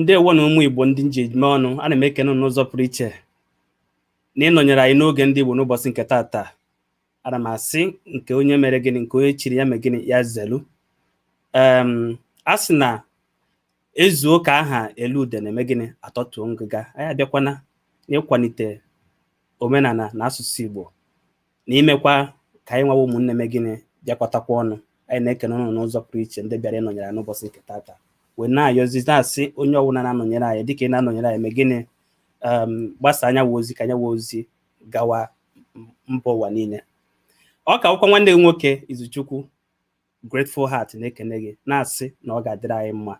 ndewo nụ ụmụ igbo ndị m ji eme ọnụ ana m ekene n'ụzọ pụrụ iche na ịnọnyere anyị n'oge ndị igbo n'ụbọchị nke taata ana m asị nke onye mere gịnị nke onye chiri ya mee gịnị ya zelu a sị na ezuo ka aha eli udene emee gịnị atọtuo ngịga anyị abịakwana n'ịkwalite omenala na asụsụ Igbo na imekwa ka anyị nwa wụ ụmụnne mee gịnị bịakọtakwa ọnụ anyị na-ekene unu n'ụzọ pụrụ iche ndị bịara ịnọnyere anyị n'ụbọchị nke taata wee na-ayọzi na-asị onye ọbụla na-anọnyere anyị dịka ị na-anọnyere anyị mee gịnị gbasaa nya wụ ozi ka nya wụ ozi gawa mba ụwa niile ọ ka wụkwa nwanne gị nwoke Izuchukwu Grateful Heart na-ekene gị na-asị na ọ ga-adịrị anyị mma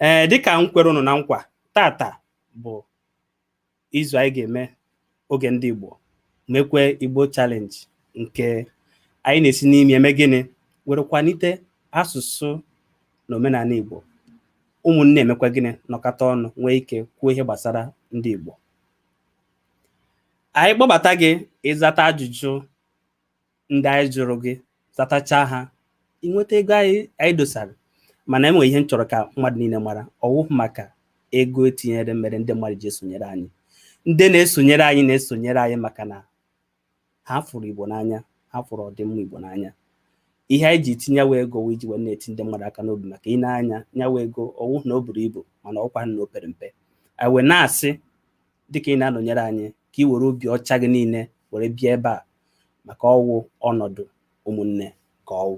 ee dịka m kwere unu na nkwa taata bụ izu anyị ga-eme oge ndị Igbo mekwe Igbo challenge nke anyị na-esi n'ime eme gịnị were kwanite asụsụ na omenala Igbo ụmụnne emekwa gịnị nọkọta ọnụ nwee ike kwuo ihe gbasara ndị Igbo anyị kpọbata gị ị zata ajụjụ ndị anyị jụrụ gị zatachaa ha i nweta ego anyị dosara mana enwere ihe m chọrọ ka mmadụ niile mara ọ wụghị maka ego etinyere mere ndị mmadụ ji esonyere anyị ndị na-esonyere anyị na-esonyere anyị maka na ha fụrụ Igbo n'anya ha fụrụ ọdịmma Igbo n'anya ihe anyị ji tinye nya wụ ego wụ iji wee na-eti ndị mmadụ aka n'obi maka i nee anya nya wụ ego ọ wụ na o buru ibu mana ọ wụkwa na o pere mpe anyị wee na-asị dịka ị na-anọnyere anyị ka ị were obi ọcha gị niile were bịa ebe a maka ọ wụ ọnọdụ ụmụnne ka ọ wụ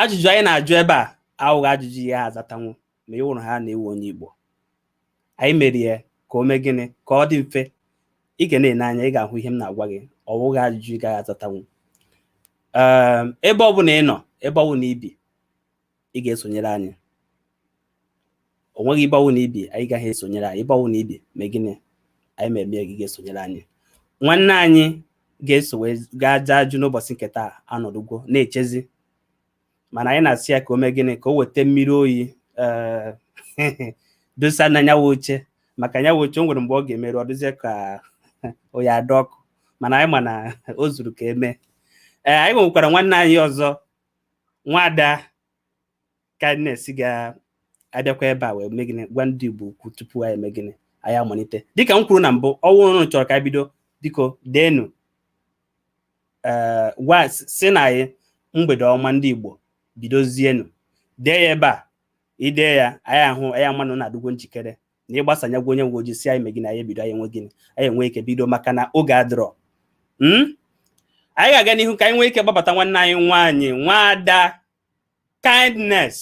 ajụjụ anyị na-ajụ ebe a awụghị ajụjụ ị gaghị azatanwu ma ị wụrụhaa na ị wụ onye Igbo anyị mere ya ka o mee gịnị ka ọ dị mfe ị ga na-ene anya ị ga-ahụ ihe m na-agwa gị ọ wụghị ajụjụ ị gaghị azatanwu ehm, ebe ọ bụla ị nọ ebe ọwụna i bi ị ga-esonyere anyị o nweghị ebe ọwụna i bi ị gaghị esonyere anyị ebe ọwụna i bi mee gịnị anyị ma eme gị ga-esonyere anyị nwanne anyị ga-eso wee gaa ajụjụ n'ụbọchị nke taa anọdụgwo na-echezi mana anyị na-asị ya ka o mee gịnị ka o weta mmiri oyi eh, dosa na nya wụ oche maka nya wụ oche o nwere mgbe ọ ga-emeru ọ dịzie ka ọ na-ada ọkụ mana anyị ma na o zuru ka eme ee eh, anyị nwekwara nwanne anyị ọzọ nwada Kindness ga-abịakwa ebe a wee mee gịnị gwa ndị Igbo okwu tupu anyị eme gịnị anyị amalite dịka m kwuru na mbụ ọ wụrụ unu chọrọ ka anyị bido biko deenu ee ngwa sịnụ anyị mgbede ọma ndị Igbo bidozienu dee ya ebe a i dee ya anyị ahụ anyị ama na unu adịgwo njikere na ịgbasa anya gwa onye nwe ojii sị anyị me gịnị anyị ebido anyị enwe gịnị anyị enwe ike bido maka na oge adịrọ Hmm? anyị ga-aga n'ihu ka anyị nwee ike kpọbata nwanne anyị nwaanyị nwaada kindness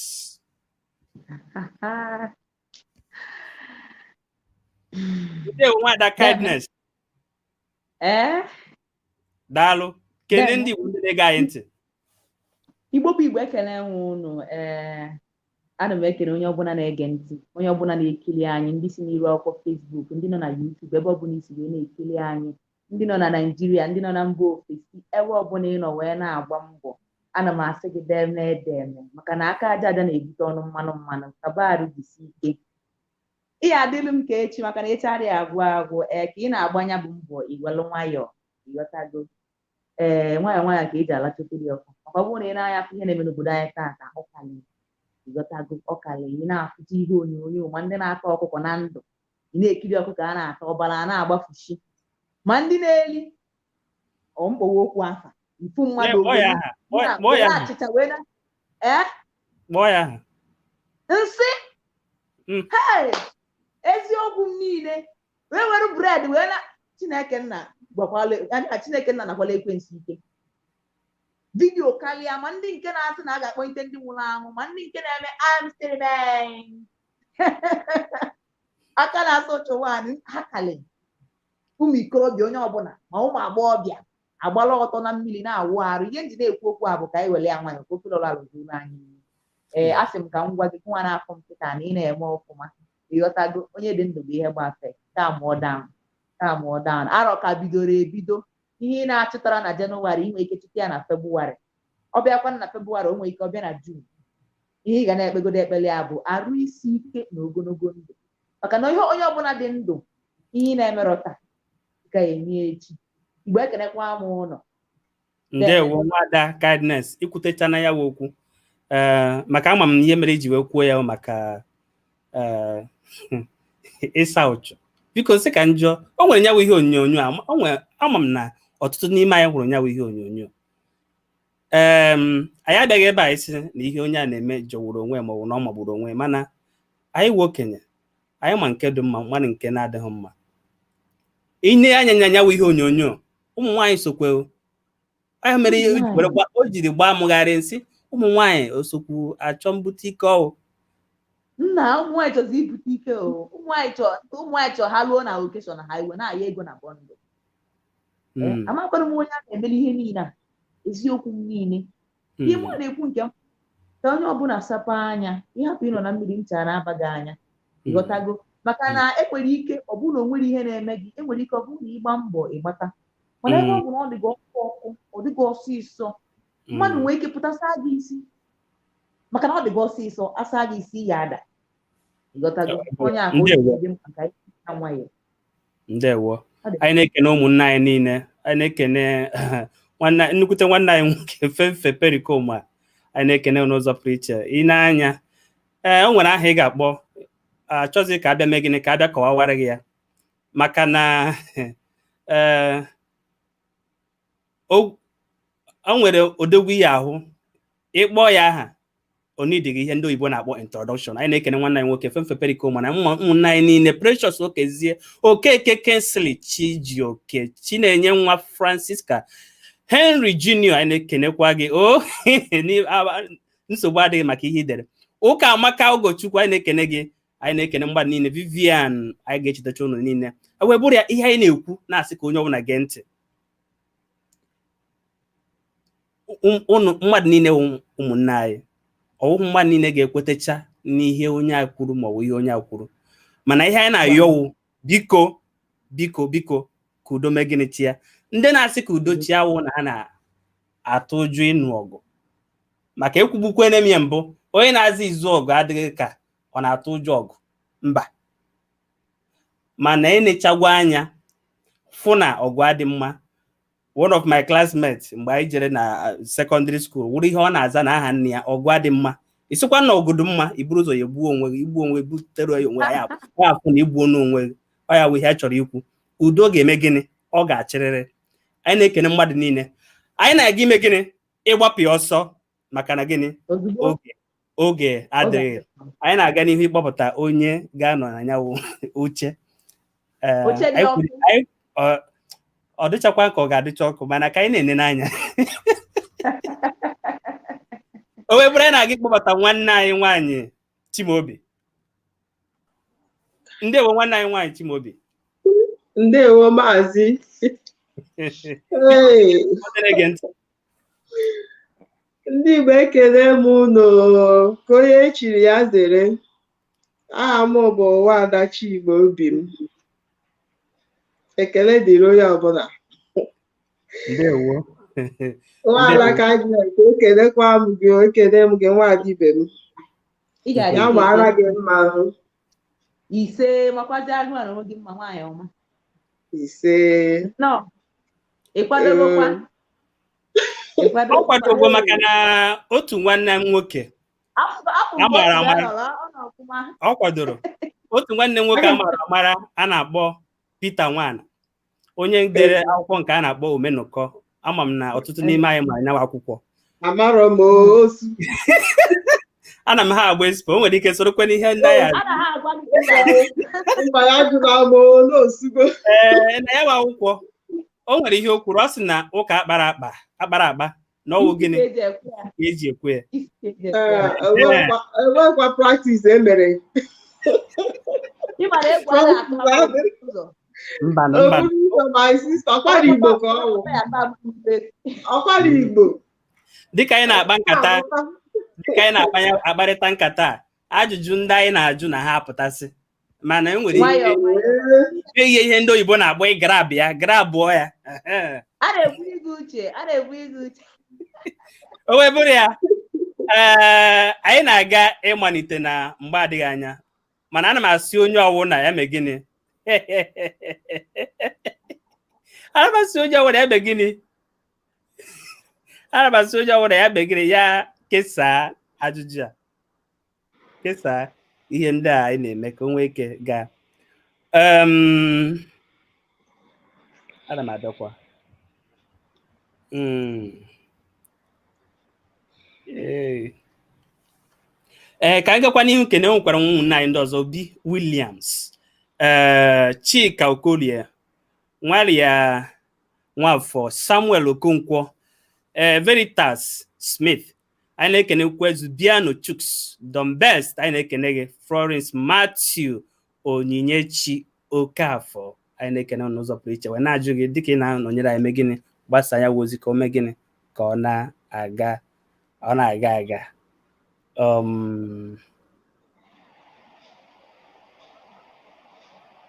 ndewo nwaada kindness ee daalụ kene ndị Igbo ndị na-ege anyị ntị Igbo bụ Igbo ekele nwe unu ee ana m ekele onye ọbụla na-ege ntị onye ọbụla na-ekiri anyị ndị si n'iru akwụkwọ Facebook ndị nọ na YouTube ebe ọbụla i si wee na-ekiri anyị ndị nọ na Naịjirịa ndị nọ na mba ofesi ebe ọbụla ị nọ wee na-agba mbọ ana m asị gị deeme deeme maka na aka aja aja na-ebute ọnụ mmanụ mmanụ kabarụ jisi ike Ị ya-adịlụ m ka echi maka na echi adịghị agwụ agwụ ee ka ị na-agba nya bụ mbọ i welụ nwayọọ ịghọtago ee nwayọọ nwayọọ ka e ji alacha ofe dị ọkụ maka ọ bụrụ na ị nee anya fụ ihe na-eme n'obodo anyị taata ọ kalị ịghọtago ọ kalị ị na-afụta ihe onyonyo ma ndị na-ata ọkụkọ na ndụ ị na-ekiri ọkụkọ a na-ata ọbara a na-agbafushi ma ndị na-eli ọ m kpọwa okwu afa nsị mmadụ kpọọ ya aha kpọọ ya- kpọọ ya aha achịcha wee na ee kpọọ ya aha nsị Mm. hei eziokwu m niile wee were bred wee na chineke nna gwakwala anya chineke nna nakwala ekwensu ike vidiyo karịa ma ndị nke na-asị na a ga-akpọlite ndị nwụrụ anwụ ma ndị nke na-eme amsterdam aka na-asụ chụwan ha kalị ụmụ ikorobịa onye ọbụla ma ụmụ agbọghọbịa agbala ọtọ na mmiri na-awụ arụ ihe m ji na-ekwu okwu a bụ ka anyị were ya nwayọ ka ofe lọra rụzuru anyị ee a sị m ka m gwa gị nwanne afọ m kịta na ị na-eme ọfụma ịghọtago onye dị ndụ bụ ihe gbafe calm down calm down arọ ka bidoro ebido ihe ị na-achụtarọ na jenụwarị ị nwere ike chụta ya na febụwarị ọ bịakwa na febụwarị o nwere ike ọ bịa na jun ihe ị ga na-ekpegodo ekpere ya bụ arụ isi ike na ogologo ndụ maka na ihe onye ọbụla dị ndụ ihe ị na-emerọ taa ka eme echi Igbo ekenekwa m unu ndewo nwada kindness ikwutechana ya wụ okwu ee maka ama m na ihe mere i ji wee kwuo ya maka ee ịsa ụchụ biko nsị ka njọ o nwere nya wụ ihe onyonyo a o nwere ama m na ọtụtụ n'ime anyị hụrụ nya wụ ihe onyonyo um anyị abịaghị ebe anyị sị na ihe onye a na-eme jọgburu onwe ma ọ bụ na ọ magburu onwe mana anyị wụ okenye anyị ma nke dị mma marụ nke na-adịghị mma i nee anya nya nya wụ ihe onyonyo ụmụ nwaanyị sokwe ahụ mere ihe o jiri gbaa mụgharị nsị ụmụ nwaanyị esokwu achọ mbute ike ọ wụ na ụmụ nwaanyị chọzi ibute ike ụmụ nwaanyị chọ ha ruo na okeshọn ha e wee na-aya ego na bọndụ hmm. amakwara m onye a na-emere ihe niile a eziokwu m niile hmm. ihe mụ na-ekwu nke m ka onye ọbụla sapa anya ịhapụ ịnọ na mmiri ncha na-aba gị anya hmm. ịghọtago maka na enwere ike ọ bụrụ na o nwere ihe na-eme gị enwere ike ọ bụrụ na ịgba mbọ ịgbata mana ebe ọ bụ na ọ dịghị ọkụ ọkụ ọ dịghị ọsịsọ mmadụ nwee ike pụta saa gị isi maka na ọ dịghị ọsịsọ asaa gị isi ya ada ịghọtago onye ahụ dị mkpa ka nwayọọ ndewo anyị na-ekene ụmụnne anyị niile anyị na-ekene nnukwute nwanne anyị nwoke fefe perikoma anyị na-ekene n'ụzọ pụrụ iche i nee anya ee o nwere aha ị ga-akpọ achọzi ka abịa mee gịnị ka abịa kọwawara gị ya maka na ee o nwere odogwu ị ya-ahụ ị kpọọ ya aha o needighị ihe ndị oyibo na-akpọ introduction anyị na-ekene nwanne anyị nwoke femfe perikoma na ụmụnne anyị niile precious okezie okeke kingsley chijioke chinenye nwa francisca henry junior anyị na-ekenekwa gị o oh, nsogbu adịghị maka ihe i dere ụkamaka ugochukwu anyị na-ekene gị anyị na-ekene mgbada niile vivian anyị ga-echetacha ụnụ niile o wee bụrụ ya ihe anyị na-ekwu na-asị ka onye ọbụla gee ntị ụnụ mmadụ niile ụmụnne anyị ọwụhụ mmadụ niile ga-ekwetecha n'ihe onye a kwuru ma ọ bụ ihe onye a kwuru mana ihe anyị na-ayọ wụ biko biko biko ka udo mee gịnị chịa ndị na-asị ka udo chịa awụ na ha na-atụ ụjọ ịnụ ọgụ maka ekwugbukwene m ya mbụ onye na-azị izu ọgụ adịghị ka ọ na-atụ ụjọ ọgụ mba mana enechagwa anya fụ na ọgụ adị mma one of my classmates mgbe anyị jere na uh, secondary school wụrụ ihe ọ na-aza na aha nne ya ọgụ adị mma ị sịkwa na ọgụ dị mma i buru ụzọ ya egbuo onwe gị igbuo onwe butere ya onwe ya afụ na i gbuona onwe gị ọ ya wụ ihe a chọrọ ikwu udo ga-eme gịnị ọ ga-achịrịrị anyị na-ekene mmadụ niile anyị na-aga ime gịnị ịgbapụ ya ọsọ maka na gịnị oge adịghị anyị na-aga n'ihu ịkpọpụta onye ga-anọ na ya uche ọ dịchakwa ka ọ ga-adịcha ọkụ mana ka anyị na-ene n'anya o wee bụrụ anyị na-aga ịkpọbata nwanne anyị nwaanyị Chimaobi ndewo nwanne anyị nwaanyị Chimaobi ndewo maazị ndị Igbo ekele m unu ka onye echiri ya zere aha m bụ Nwaada Chigbo obi m ekele dịrị onye ọbụla ndewo nwaada ka gị ka ekelekwa m gị ekele m gị nwaada ibe m Ị ga-adị ya mara gị mma ahụ ise makwazi gịwa n'onwe gị mma nwaanyị ọma ise nnọọ ị kwadogokwa ọ kwadogo maka na otu nwanne m nwoke a mara amara ọ kwadoro otu nwanne m nwoke a mara amara a na-akpọ Peter Nwana onye dere akwụkwọ nke a na-akpọ Omenụkọ ama m na ọtụtụ n'ime anyị ma nyawa akwụkwọ amarọ m osu ana m ha agba expo o nwere ike sorokwa n'ihe ndị ya mba ya jụrụ ama olu osugo ee na yawa akwụkwọ o nwere ihe o kwuru ọ sị na ụka akpara akpa akpara akpa na ọwụ gịnị eji ekwe ya enwekwa practice emere ọkwara Igbo dịka anyị na-akpa nkata dịka anyị na-akparịta nkata ajụjụ ndị anyị na-ajụ na ha apụtasị mana e nwere nwayọọ nwayọọ ihe ihe ndị oyibo na-akpọ ị grab ya grabụọ ya Ehe. a na-ekwu gị uche a na-ekwu gị uche o wee bụrụ ya ee anyị na-aga ịmalite na mgbe adịghị anya mana ana m asị onye ọwụna ya mee gịnị ana m asị onye ọwụna ya mee gịnị ana m asị onye ọbụla ya mee gịnị ya kesaa ajụjụ a kesaa ihe ndị a anyị na-eme ka o nwee ike gaa ana m abịakwa hmm. ee eh, ka anyị gakwa n'ihu nke na enwekwara ụmụnne anyị ndị ọzọ Obi Williams ee eh, Chika Okolie Maria Nwafọ Samuel Okonkwo ee Veritas Smith anyị na-ekenekwa Zubiano Chuks Don Best anyị na-ekene gị Florence Matthew Onyinyechi Okafọ anyị na-ekene unu n'ụzọ pụrụ iche wee na-ajụ gị dịka ị na-anọnyere anyị mee gịnị gbasaa yawa ozi ka o mee gịnị ka ọ na-aga ọ na-aga aga um,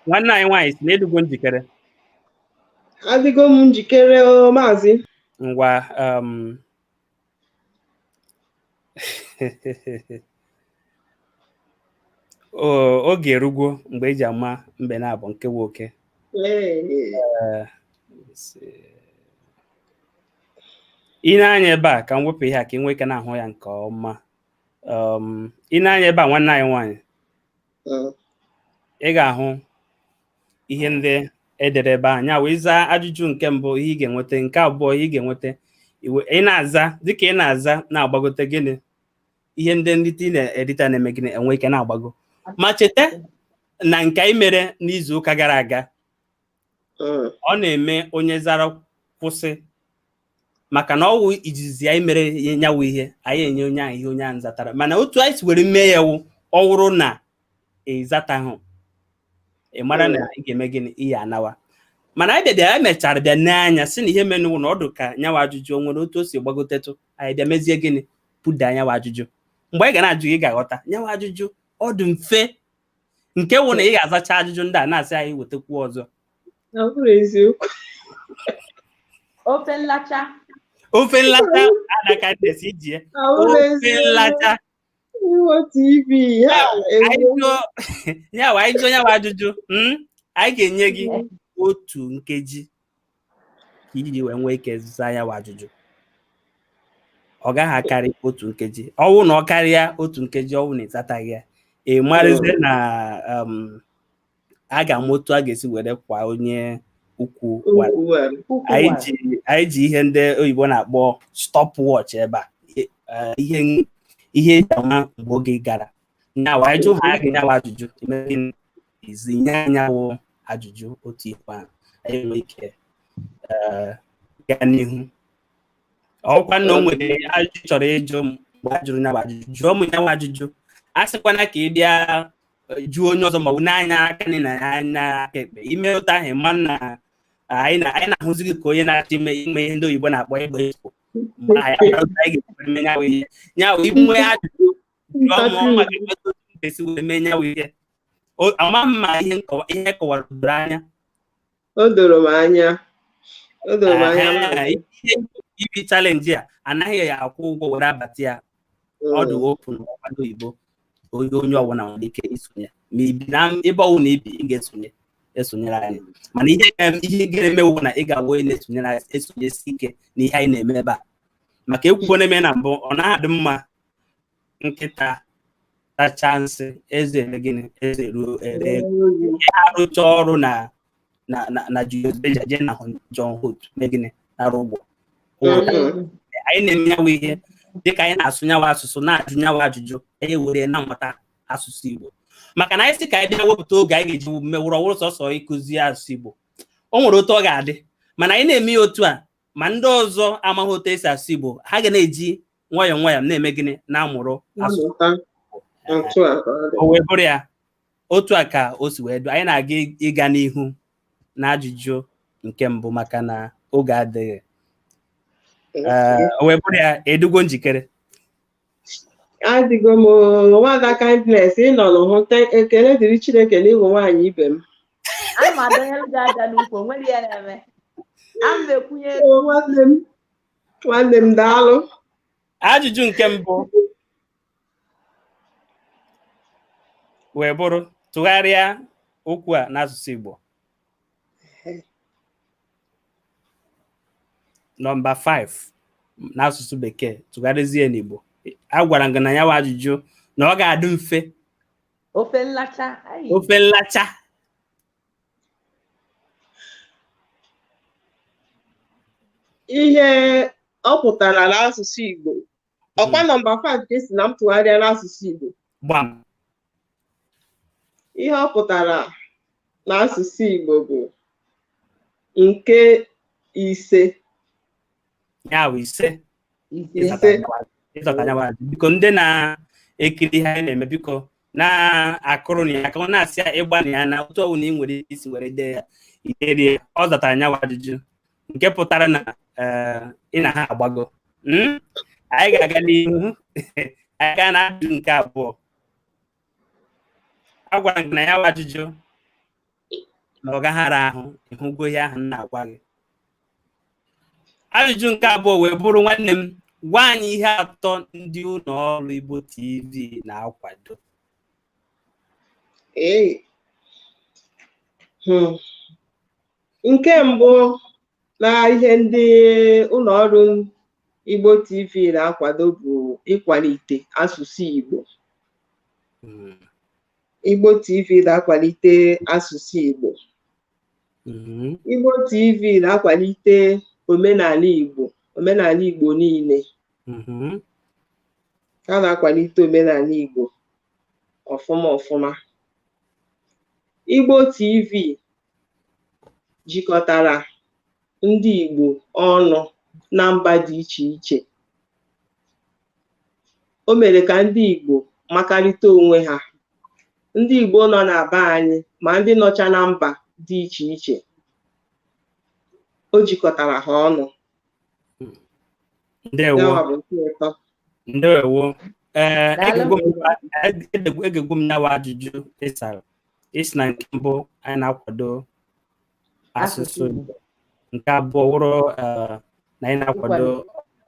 nwanne anyị nwaanyị sị na ị dịgo njikere adịgo m njikere o maazị ngwa um, o- oge erugo mgbe eji ama mbe naabọ nke wụ oke Ee, Ee, si- i nee anya ebe a ka m wepụ ihe a ka ị nwee ike na-ahụ ya nke ọma um, i nee anya ebe a nwanne anyị nwaanyị mm. ị ga-ahụ ihe ndị edere ebe a nya wụ ị zaa ajụjụ nke mbụ ihe ị ga-enweta nke abụọ ihe ị ga-enweta ị na-aza dịka ị na-aza na-agbagote gịnị ihe ndị nrite ị na-erita na-eme gịnị enwe ike na-agbago ma cheta na nke anyị mere n'izu ụka gara aga mm. ọ na-eme onye zara kwụsị maka na ọwụ izizi anyị mere ya nyawụ ihe anyị enye onye ahụ ihe onye ahụ zatara mana otu anyị si were mee ya wụ ọ wụrụ na ịzatahụ ị mara na ị ga-eme gịnị ị ya-anawa mana anyị bịabịa anyị mechara bịa nee anya sị na ihe menụ wụ na ọ dụ ka nyawa ajụjụ o nwere otu o si gbagotetụ anyị bịa mezie gịnị buda nyawa ajụjụ mgbe anyị ga na-ajụ gị ị ga-aghọta nyawa ajụjụ ọ dị mfe nke wụ na ị ga-azacha ajụjụ ndị a na-asị anyị wetakwu ọzọ na ọ bụrụ eziokwu ofe nlacha ofe nlata adaka ndesi iji ya na ọ bụrụ ofe eziokwu nlata iwe tv ha anyị ewu jụọ ya wa anyị jụọ nyawa ajụjụ mm, anyị ga-enye gị otu nkeji ka i ji wee nwee ike zaa nyawa ajụjụ ọ gaghị akarị otu nkeji ọwụ na ọ karịa otu nkeji ọwụ na ị zataghị ya ị marazie na um, a ga-ama otu a ga-esi were kwọọ onye ukwu wara. Ukwu wara. Ukwu anyị wara. ji anyị ji ihe ndị oyibo na-akpọ stop watch ebe a Ihe- eh, ihe ihe eji ama mgbe oge gara nyawa anyị jụhaa gị nyawa ajụjụ i mee gịnị? ị zaa anyị nyawụ ajụjụ otu ikpe ahụ anyị nwee ike eh, gaa n'ihu ọ wụkwa na o nwere ajụjụ ị chọrọ ịjụ m mgbe a jụrụ nyawa ajụjụ jụọ m nyawa ajụjụ asịkwana ka ị bịa eh, jụọ onye ọzọ maọbụ nee anya aka nni nee anya aka ekpe i mee otu ahụ ị ma na anyị na- anyị na-ahụzi gị ka onye na-achọ ime ime ihe ndị oyibo na-akpọ ịgba expo ma anyị amaghị otu anyị ga-esi mee nyawa ihe nyawa i nwee ajụjụ jụọ m ọ maka etu m ga-esi wee mee nyawa ihe ama m ma ihe nkọwa ihe m kọwara doro anya o doro m anya o doro m anya Aha, ihe ibi challenge a anaghị akwụ ụgwọ were abata ya ọ dị open ọgbado oyibo onye onye ọbụla nwere ike isonye ma i bi na ebe ọwụna i bi ị ga-esonye esonyere anyị mana ihe ga- ihe ga-eme wụ na ị ga-awụ onye na-esonyere anyị esonyesi ike na ihe anyị na-eme ebe a maka ekwugo na-eme na mbụ ọ na-adị mma nkịta tacha nsị eze eme gịnị eze ruo ere a rụcha ọrụ na na na na Julius Berger jee na John Holt mee gịnị nara ụgwọ anyị na-eme nyawa ihe dịka anyị na-asụ nyawa asụsụ na-ajụ nyawa ajụjụ anyị were na-amụta asụsụ Igbo maka na anyị sị ka anyị bịa wepụta oge anyị ga-eji mewụrụ ọ wụrụ sọsọ ịkụzi asụsụ Igbo o nwere otu ọ ga-adị mana anyị na-eme ya otu a ma ndị ọzọ amaghị otu e si asụ Igbo ha ga na-eji nwayọọ nwayọọ na-eme gịnị na-amụrụ asụsụ o wee bụrụ ya otu a ka o si wee dụ anyị na-aga ịga n'ihu na ajụjụ nke mbụ maka na oge adịghị o wee bụrụ ya ị dụgo njikere adịgo m nwada Kindness ị nọ n'ụhụ ekele dịrị chineke na ị bụ nwaanyị ibe m nwanne m daalụ ajụjụ nke mbụ wee bụrụ tụgharịa okwu a n'asụsụ Igbo nọmba 5 n'asụsụ bekee tụgharịzie n'Igbo a gwara m gị na ya wa ajụjụ na ọ ga-adị mfe ofe nlacha ofe nlacha ihe ọ pụtara n'asụsụ Igbo ọ kwa nọmba 5 ka ị sị na m tụgharịa n'asụsụ Igbo gbam ihe ọ pụtara n'asụsụ Igbo bụ nke ise ya bụ ise nke ise ị zata nyawa ajụ. biko ndị na-ekiri ihe anyị na-eme biko na-akụrụnụ ya aka na-asị ya ị gbanịa na otu ọwụna ị nwere ike isi were dee ya iderie ọ zatara nyawa ajụjụ nke pụtara na eh, ị na ha agbago Hmm? anyị ga-aga n'ihu anyị gaa na ajụjụ nke abụọ a gwara m gị na ya bụ ajụjụ na ọ gaghị ara ahụ ị hụgo ihe ahụ m na-agwa gị ajụjụ nke abụọ wee bụrụ nwanne m gwa anyị ihe atọ ndị ụlọ ọrụ Igbo TV na-akwado ee hmm. nke mbụ na ihe ndị ụlọ ọrụ Igbo TV na-akwado bụ ịkwalite asụsụ Igbo hmm. Igbo TV na-akwalite asụsụ Igbo. Mhm. Igbo TV na-akwalite omenala Igbo, omenala Igbo niile. Mhm. Ha na-akwalite omenala Igbo ọfụma ọfụma. Igbo TV jikọtara ndị Igbo ọnụ na mba dị iche iche. o mere ka ndị Igbo makarịta onwe ha ndị Igbo nọ na be anyị ma ndị nọcha na mba dị iche iche o jikọtara ha ọnụ ndewo ee egegwu m nyawa ajụjụ ị sara ị sị na nke mbụ anyị na-akwado asụsụ Igbo nke abụọ wụrụ eh, na anyị na-akwado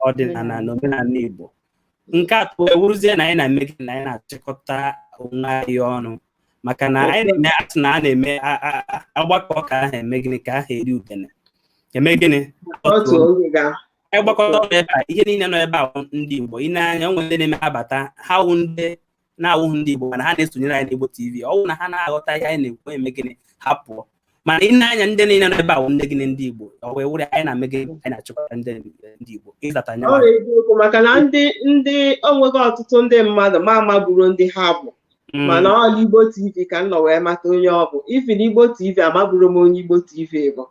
ọdịnala na omenala Igbo nke atọ awụrụzie na anyị na-eme gịnị anyị na-achịkọta onwe anyị ọnụ maka na anyị na-eme asị na a na-eme agbakọ ka ahụ eme gịnị ka ahụ eri udene eme gịnị ịgbakọta ọnụ ebe a ihe niile nọ ebe a ndị Igbo i nee anya o nwere ndị na-eme abata ha wụ ndị na-awụghị ndị Igbo mana ha na-esonyere anyị n'Igbo TV ọ wụ na ha na-aghọta ihe anyị na-ekwu eme gịnị ha pụọ mana i nee anya ndị niile nọ ebe a wụ ndị gịnị ndị Igbo ọ wee wụrụ anyị na-eme gịnị anyị na-achịkọta ndị ndị Igbo ị zata nya ọ bụ eziokwu maka na ndị ndị onweghị ọtụtụ ndị mmadụ ma amaburo ndị ha bụ mm. mana ọ n'Igbo TV ka m nọ wee mata onye ọ bụ Ify n'Igbo TV amaburo m onye Igbo TV bụ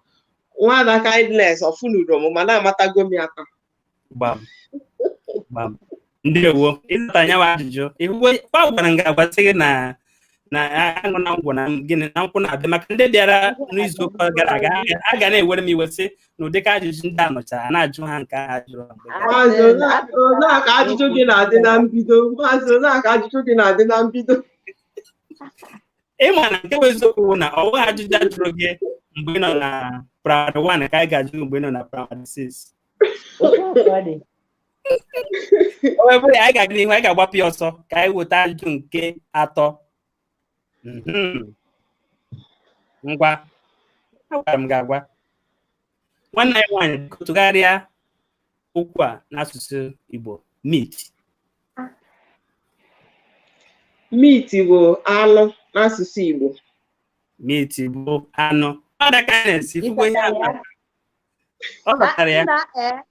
nwaada kindness ọ fụnuro m mana amatago m ya aka gbam gbam ndewo ị zata nyawa ajụjụ ị hụgwo agwara m gị agwa sị gị na na aṅụ na ngwọ na gịnị na nkwụ na-abịa maka ndị bịara n'izu ụka gara aga ha ga na-ewere m iwe sị na ụdịka ajụjụ ndị a nọchara a na-ajụ ha nke a jụrụ ha mgbe gara aga. Maazị Ola- Ola ka ajụjụ gị na-adị na mbido Maazị Ola ka ajụjụ gị na-adị na mbido ị ma na nke bụ eziokwu bụ na ọ bụghị ajụjụ a jụrụ gị mgbe ị nọ na primary one ka anyị ga-ajụ gị mgbe ị nọ na primary six o wee bụrụ ya anyị ga-aga n'ihu anyị ga-agbapụ ya ọsọ ka anyị weta ajụjụ nke atọ Mhm. ngwa agwara m gị agwa nwanne anyị nwaanyị biko tụgharịa okwu a n'asụsụ Igbo meat meat bụ anụ n'asụsụ Igbo meat bụ anụ ọ zatara ya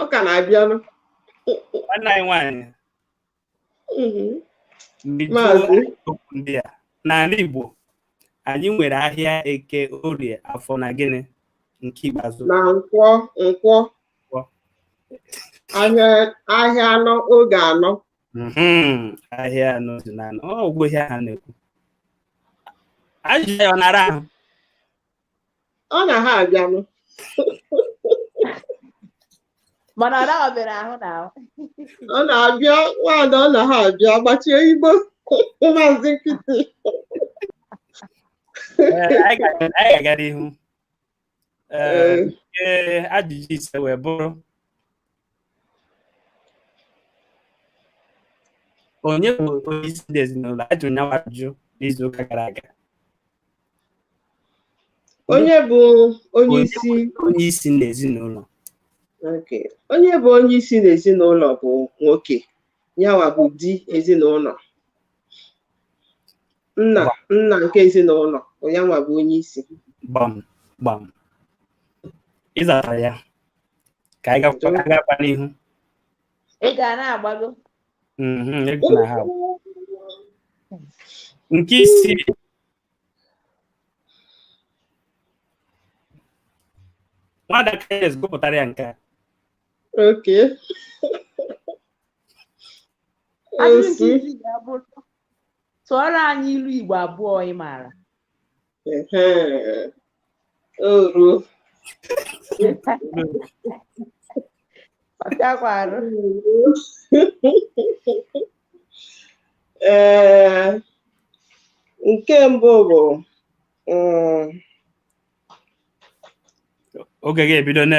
ọ ka na-abịanụ nwanne anyị nwaanyị Mhm. ndị Maazị. jụọ okwu ndị a n'ala Igbo anyị nwere ahịa eke orie afọ na gịnị nke ikpeazụ na nkwọ nkwọ Nkwọ. ahịa ahịa anọ oge anọ Mhm, ahịa anọ si na anọ ọ wụghị ihe a na-ekwu ajụjụ ya ọ na-ara ahụ ọ na ha abịanụ mana ọ naghị ọbịara ahụ na ahụ ọ na-abịa nwaada ọ na ha abịa gbachie igbo maazị nkịtị Eh, anyị ga- anyị ga-aga n'ihu Eh, Ee. nke ajụjụ ise wee bụrụ onye bụ onye isi ndị ezinụlọ a jụrụ nyawa ajụjụ n'izu ụka gara aga onye bụ onye isi onye isi ndị ezinụlọ Okay. onye bụ onye isi n'ezinụlọ bụ nwoke yanwa bụ di ezinụlọ nna nna nke ezinụlọ bụ yanwa bụ onye isi gbam gbam ị zatara ya ka anyị gakwa anyị gakwa n'ihu ị ga na-agbago Mhm, egwu na ha bụ. nke isii nwada kayes gụpụtara ya nke a Okay ajụjụ nke isii ga-abụ tụọrọ anyị ilu igbo abụọ ị maara oru ọ bịakwarụ ee nke mbụ bụ mm, oge ga-ebido na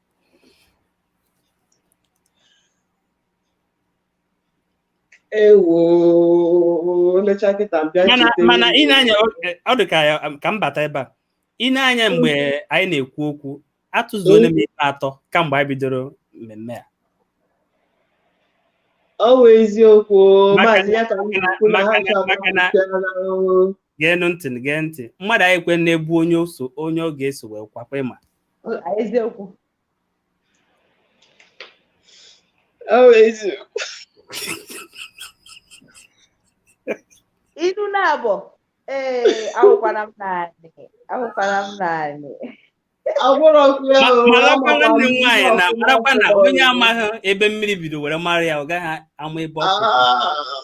ewo lecha kịta mbịa mana cheta mana ewu. i nee anya ọ dị ka ya ka m bata ebe a i nee anya mgbe anyị na-ekwu okwu atụzuola m ikpe atọ kamgbe anyị bidoro mmemme a ọ wụ eziokwu o, Maka- maazị ya ka m na-ekwu na ha maka- chọrọ maka na- ahụ. geenụ ntị gee ntị mmadụ anyị kwe na-ebu onye o so onye ọ ga-eso wee kwakwa ị ma eziokwu inu na-abụ ee ahụkwara m naanị ahụkwara m naanị marakwa nwanne m nwaanyị na marakwa na onye amaghị ebe mmiri bido were mara ya ọ gaghị ama ebe ọ kọrọ ahụ.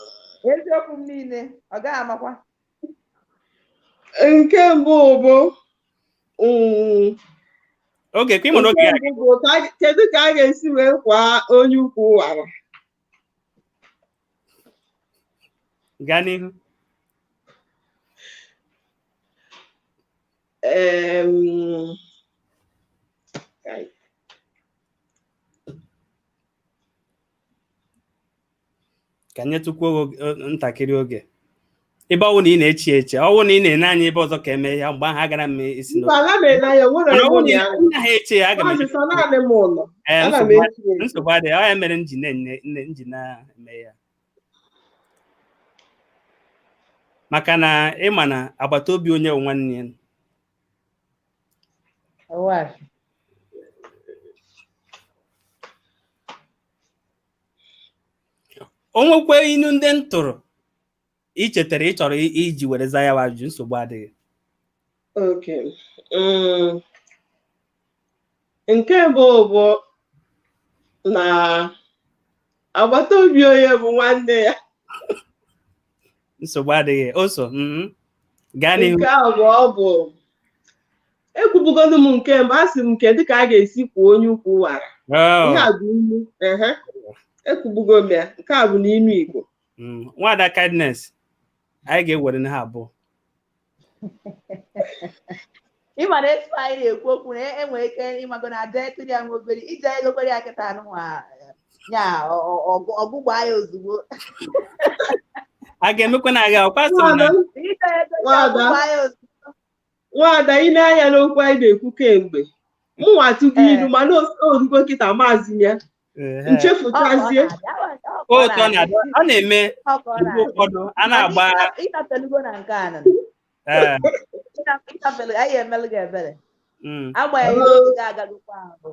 eziokwu m niile ọ gaghị amakwa nke mbụ bụ mm, oge ka ị nwere oge ya nke mbụ bụ ka a- kedu ka a ga-esi wee kwaa onye ukwu wara gaa n'ihu Em, ka nyetụkwuo gị o- o- ntakịrị oge ebe ọwụ na ị na-eche eche ọwụ na ị na-ene anya ebe ọzọ ka eme ya mgbe ahụ agara m isi mba n'obi ana m ele anya nwere mana ọwụ onye na ya ị naghị eche ya aga m maazị eche sọ naanị m ụlọ ee ana m nsogbu echi adị- echi nsogbu adịghị ọ ya mere m ji na-enye nne- m ji na-eme ya maka na ịma na agbata obi onye bụ nwanne ya Ọwụwa. o nwekwa inu ndị m tụrụ i chetara ị chọrọ i- iji were za ya bụ ajụjụ nsogbu adịghị Okay. Mm. Nke bụ bụ na agbata obi onye bụ nwanne ya nsogbu adịghị o so mhm. gaa n'ihu nke abụọ bụ ekwubugolu m nke mbụ asị m nke dịka a ga-esi kwuo onye ukwu wara Oh, ihe a bụ ilu ehe ekwubugo m ya nke a bụ n'ilu Igbo mm. Nwada Kindness anyị ga-ewere na ha abụọ ịma na etu anyị na-ekwu okwu na enwere ike ịmago na aja etiri ya nwa obere ije egokwere ya kịta anụnwa ya ọgụgba ya ozugbo a ga-emekwa na aga ọkwa so na nwada i nee anya n'okwu anyị na-ekwu kemgbe mụnwa atụgo ilu mana o rugo kịta maazị ya Ehe. nchefuchazie O otu ọ na-adị ọ na-eme mgbe ụfọdụ a na-agba ịtafelugo na nke a nọ ee, ịtafelu anyị emelụ gị ebere mm. agbanyeghị na oge agagokwa ahụ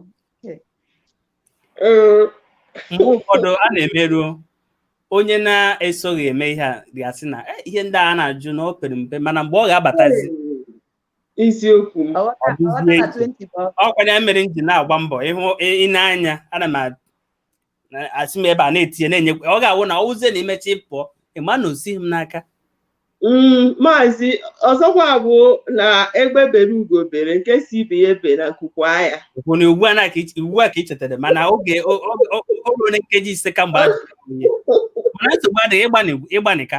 Ee, mgbe ụfọdụ a na-emeruo onye na-esoghị eme ihe a ga-asị na "Eh, ihe ndị a na-ajụ na o pere mpe mana mgbe ọ ga-abatazi eziokwu m Ọghọta- Ọ dịzie ọghọta na iche. 20 bụ ọkụ. ọkwa ya mere m ji na-agba mbọ ịhụ ine anya ana m a- na- asị m ebe a na-etinye na-enye ọ ga-awụ na ọwụzie na i mechaa pụọ ịma na o sighi m n'aka Mm, maazị ọzọkwa bụ na egbe bere ugo bere nke sị ibe ya ebena nku kwaa ya bụ na ugbu a na ka iche- ugbu a ka ị chetara mana oge o- o- o- o ruona nkeji ise kamgbe a jụrụ ya. mana nsogbu adịghị ị gbanị- ị gbanịka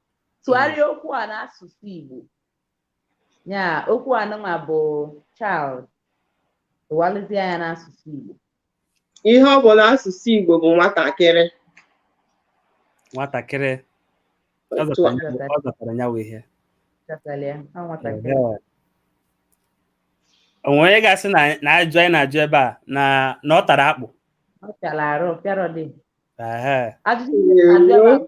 tụgharịa okwu a n'asụsụ Igbo ya okwu anụnwa bụ child tụgharịzịa ya n'asụsụ Igbo ihe ọ bụ n'asụsụ Igbo bụ nwatakịrị nwatakịrị ọ Otu a. zatara ya- ọ zatara ya wụ ihe Chọtara ya, ọ nwatakịrị o nwee onye ga-asị na na ajụ anyị na-ajụ ebe a na na ọ tara akpụ ọ fịara arụ pịarọdị Ehe. ajụjụ Ewo. na-abịa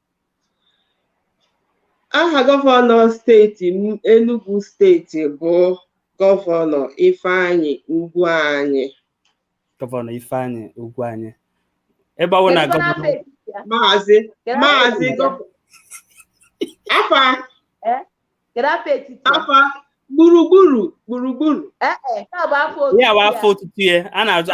aha gọvanọ steeti Enugu steeti bụ gọvanọ Ifeanyi Ugwuanyi gọvanọ Ifeanyi Ugwuanyi ebe ọ bụ na gọvanọ maazị maazị afa afa gburugburu gburugburu ya bụ afa otutu ya a na-aza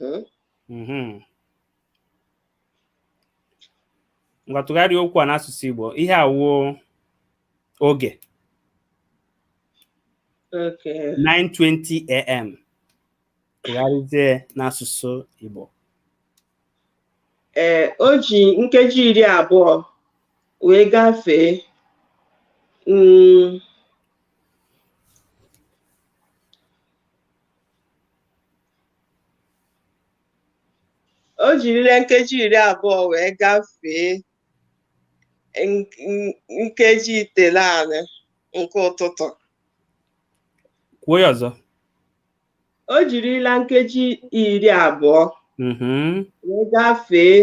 mhm. Mhm. ngwa tụgharịa okwu a n'asụsụ Igbo ihe a wụ oge Okay. 9:20 a.m. tụgharịzie n'asụsụ Igbo Ee, o ji nkeji iri abụọ wee gafee mm, o jirila nkeji iri abụọ wee gafee nkeji itenaanị nke ụtụtụ kwuo ya ọzọ o jirila nkeji iri abụọ mhm. wee gafee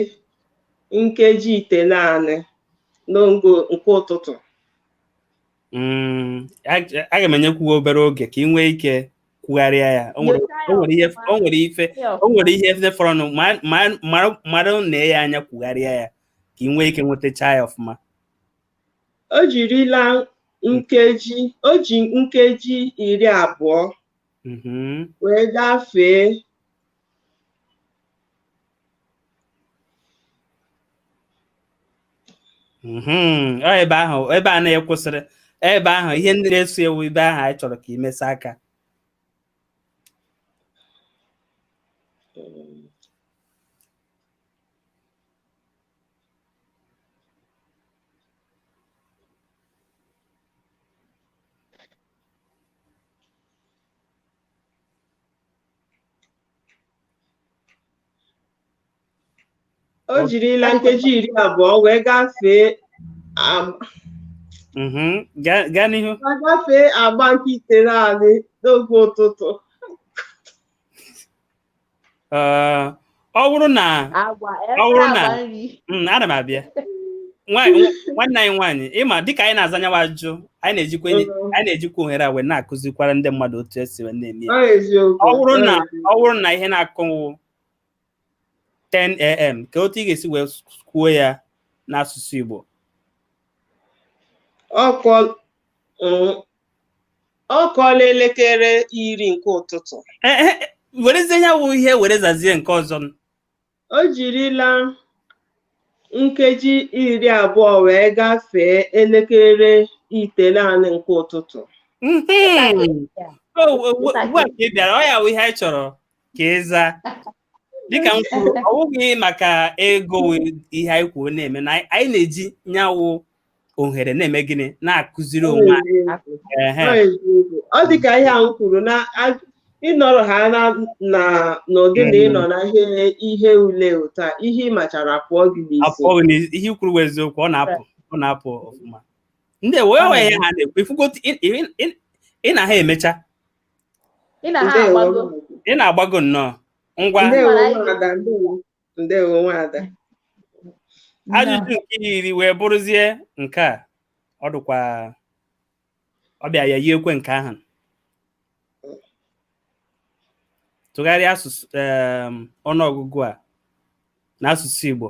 nkeji itenaanị n'oge nke ụtụtụ Mm, ag- aga m enyekwu gị obere oge ka ị nwee ike kwugharịa ya o nwere Nyochaa ya o nwere ihe ọfụma. o nwere ife Ihe o ọfụma. nwere ihe ndị fọrọnụ ma- ma- mara- mara na ya anya kwugharịa ya ka ị nwee ike nwetacha ya ọfụma o jirila nkeji o ji nkeji iri abụọ Mhm. wee gafee Mhm. Ọ ebe ahụ ebe a na ị kwụsịrị ebe ahụ ihe ndị na-eso ya wụ ebe ahụ anyị chọrọ ka i mesa aka o jirila nkeji iri abụọ wee gafee agba Mhm. Gaa gaa n'ihu. wee gafee agba nke itenaanị n'oge ụtụtụ Ee, ọ bụrụ na agwa ọ bụrụ ebe na agwa nri Mm, ana m abịa Nwa- nwa- nwanne anyị nwaanyị ị ma dịka anyị na-aza nyawa ajụjụ anyị na-ejikwa enyi- Mhm. anyị na-ejikwa ohere a wee na-akụzikwara ndị mmadụ otu e si wee na-eme ya. Ọ eziokwu. ọ bụrụ na ọ bụrụ na ihe na-akụ wụ 10am ka otu ị ga-esi wee kwuo ya n'asụsụ Igbo Ọ kụọ mm, ọ kụọla elekere iri nke ụtụtụ Eh, eh, eh, werezie ya wụ ihe were zazie nke ọzọ m. o jirila nkeji iri abụọ wee gafee elekere itenaanị nke ụtụtụ Mhm. O, o, o, ugbu a ka ị bịara ọ ya wụ ihe anyị chọrọ ka ị zaa dịka m kwuru ọ bụghị maka ego ihe anyị kwuo na-eme na anyị na-eji nyawụ ohere na-eme gịnị na-akụziri onwe anyị ọ dị ka ihe ahụ kwuru na ịnọrọ ha na n'ụdị na ịnọ na ihe ule ụta ihe ị machara apụọ gị n'isi ihe i kwuru bụ eziokwu ọ na-apụ ọ na-apụ ọfụma ndị wee wee ha na-ekwu ifugo ị na ha emecha ị na ha Ndewo. agbago ị na-agbago nnọọ ngwa Ndewo Mara anyị. nwada, ndewo. Ndewo nwada. ajụjụ nke iri wee bụrụzie nke a ọ dịkwa ọ bịa ya yiekwe nke ahụ tụgharịa asụsụ em, ọnụọgụgụ a n'asụsụ Igbo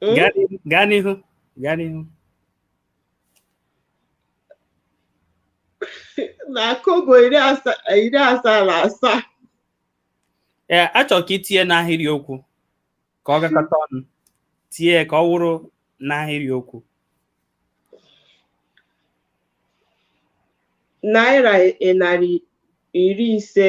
Hmm? Gaa n'ihu, gaa n'ihu, gaa n'ihu. na kobo iri asaa iri asaa na asaa Ee, achọrọ ka i tinye n'ahịrị okwu ka ọ gakọta ọnụ. Tinye ya ka ọ wụrụ n'ahịrị okwu. naira narị iri ise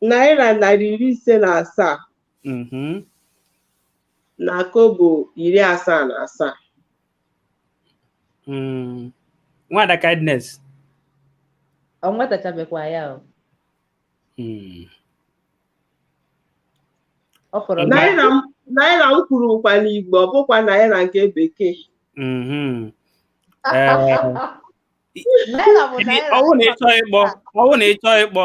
naira narị iri ise na asaa mhm, na kobo iri asaa na asaa mm. nwada kindness ọ nwetachabekwa ya o mm. ọ fọrọ Mba. naira m- naira m kwuru kwa n'igbo ọ bụkwa naira nke bekee mhm. Eh, naira bụ naira ọwụ na ịchọ ịkpọ ọwụ na ịchọ ịkpọ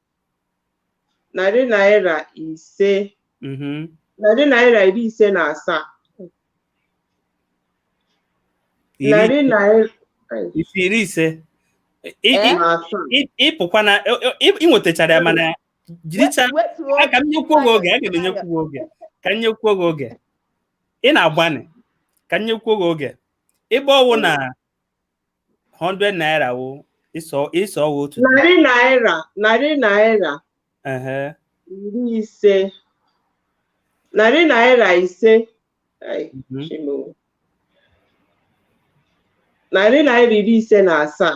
narị naira ise mhm. narị naira iri ise na asaa narị naira iri ise ị fụkwa na ị nwetachara ya mana jiricha ka m nyekwuo gị oge aga m enyekwuo oge ka m nyekwuo gị oge ị na-agbanị ka m nyekwuo gị oge ebe ọwụ na 100 naira wụ ị sị ọ ị sị ọ wụ otu narị naira narị naira ehe iri ise narị naira ise Ai, mhm, Chimo. narị naira iri ise na asaa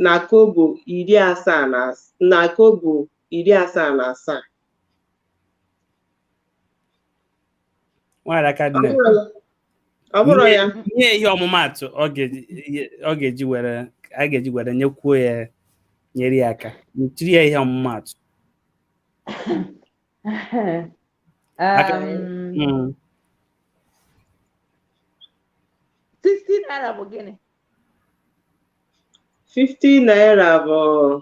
na kobo iri asaa na as- na kobo iri asaa na asaa nwada Kindness ọ bụrụ ya nye ihe ọmụmaatụ ọ ga-eji ihe- ọ ga-eji were a ga-eji were nyekwuo ya nyere ya aka tiri ya ihe ọmụmaatụ Aka- Um, Mm. 60 naira bụ gịnị 50 naira bụ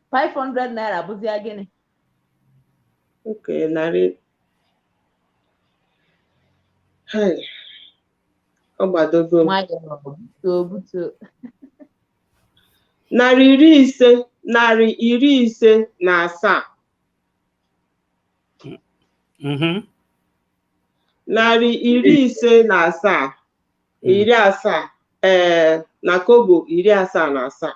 500 naira bụzia gịnị okay narị Hai, ọ gbadogo m. nwayọọ butuo butuo narị iri ise narị iri ise na asaa Mhm. narị iri ise na asaa iri asaa ee na kobo iri asaa na asaa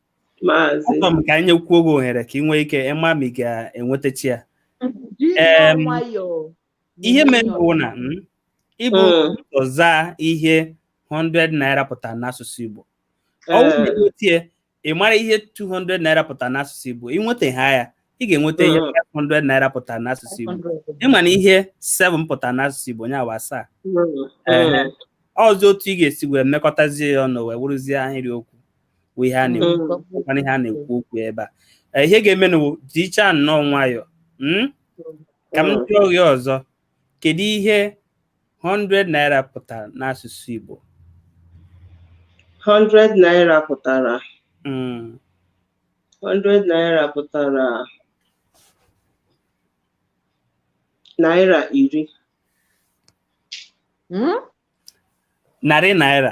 Maazị. Achọrọ m ka anyị nyekwuo gị ohere ka ị nwee ike ịma ma ị ga-enwetachi ya Ji Em, nnọọ nwayọọ. ihe mere Nwayọọ. bụ na mm, i bu Mm. ụzọ zaa ihe 100 naira pụtara n'asụsụ Igbo ọ bụrụ na Eh. ị nwetie ị mara ihe 200 naira pụtara n'asụsụ Igbo ị nweta ha ya ị ga-enweta ihe Mm. 500 naira pụtara n'asụsụ Igbo 500. ị ma na ihe 7 pụtara n'asụsụ Igbo nya bụ asaa Mm, Eh. mm. ọzọ otu ị ga-esi wee mekọtazie ya ọnụ wee wụrụzie ahịrị okwu bụ ihe a na-ekwu mana ihe a na-ekwu okwu ebe a ihe ga-emenụ jicha nnọọ nwayọọ ka m jụọ gị ọzọ kedu ihe 100 naira pụtara n'asụsụ Igbo 100 naira pụtara 100 naira pụtara naira iri narị naira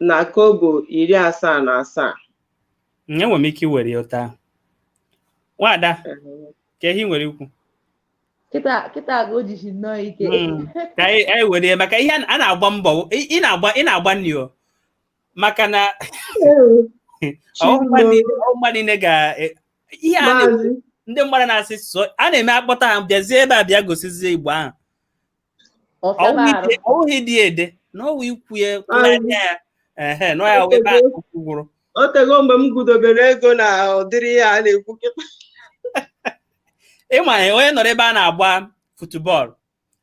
na kobo iri asaa na asaa Mm, enwere m ike iwere ya ụta nwada ka ihe i nwere ikwu kịta kịta ka o jishi nnọọ ike Mm. ka anyị anyị were ya maka ihe a na- a na-agba mbọ ị ị na-agba ị na-agbanị o maka na ọmụma niile ọmụma niile ga e- ihe a na- maazị ndị mmadụ na-asị sụọ a na-eme akpọta ha bịazie ebe a bịa gosizie Igbo ahụ ọ wụghị dị ede na ọ wụ ikwu ya anya ya ehe nọ ya wee baa okwu gwụrụ o tego mgbe m gụdobere ego na ụdịrị ya a na-ekwu kịta ịma ya onye nọrọ ebe a na-agba futubọọlụ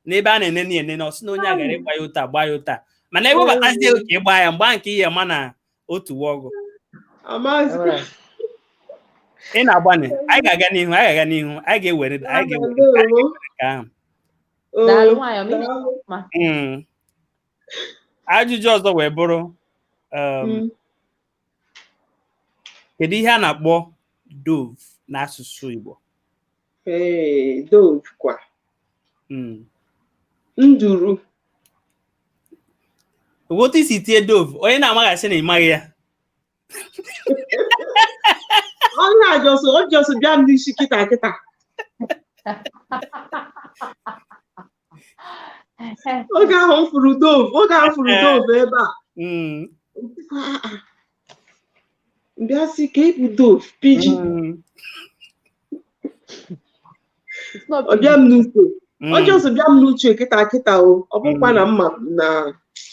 na ebe a na-enene enene ọ sị na onye a gara ịgba ya ụta gba ya ụta mana ewebatazie ka ị gbaa ya mgbe nke ihe ma na otu wa ọgụ Maazị. Alright. ị na-agbanye anyị ga-aga n'ihu anyị ga-aga n'ihu anyị ga-ewere anyị ga-ewere Ndewo. nke ahụ Oh, Daalụ nwayọọ, mmiri daalụ. mma. Mm. ajụjụ ọzọ wee bụrụ um, Mm. kedu ihe a na-akpọ dove n'asụsụ Igbo ee dove kwa Mm. nduru otu i si tie dove onye na-amaghị asị na ị maghị ya ọ just ọ just bịa m n'isi kịta kịta oge ahụ m fụrụ dove oge ahụ m fụrụ dove ebe a Mm, m bịa sị ka ịbụ dove pigeon mm, It's not ọ bịa m n'uche mm, ọ just bịa m n'uche kịta kịta o ọ bụkwa na mma na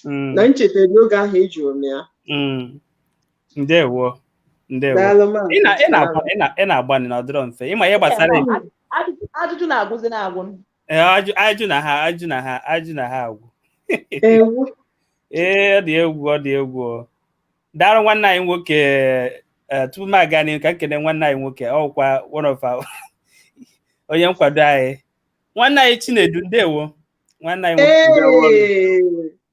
mm, na m cheta n'oge ahụ a jụrụ m ya mm. ndewo ndewo daalụ ma ị na- ị na-agba- ị na- ị na-agbanị na ọ dịrọ mfe ịma ihe gbasara Ajụjụ- ajụjụ na-agwụzi na-agwụ m. Ee, ajụ ajụ na ha ajụ na ha ajụ na ha agwụ ewu ee ọ dị egwu ọ dị egwu o. daalụ nwanne anyị nwoke ee, tupu m aga n'ihu ka m kene nwanne anyị nwoke wụkwa one of our onye nkwado anyị nwanne anyị Chinedu ndewo nwanne anyị nwoke Ee,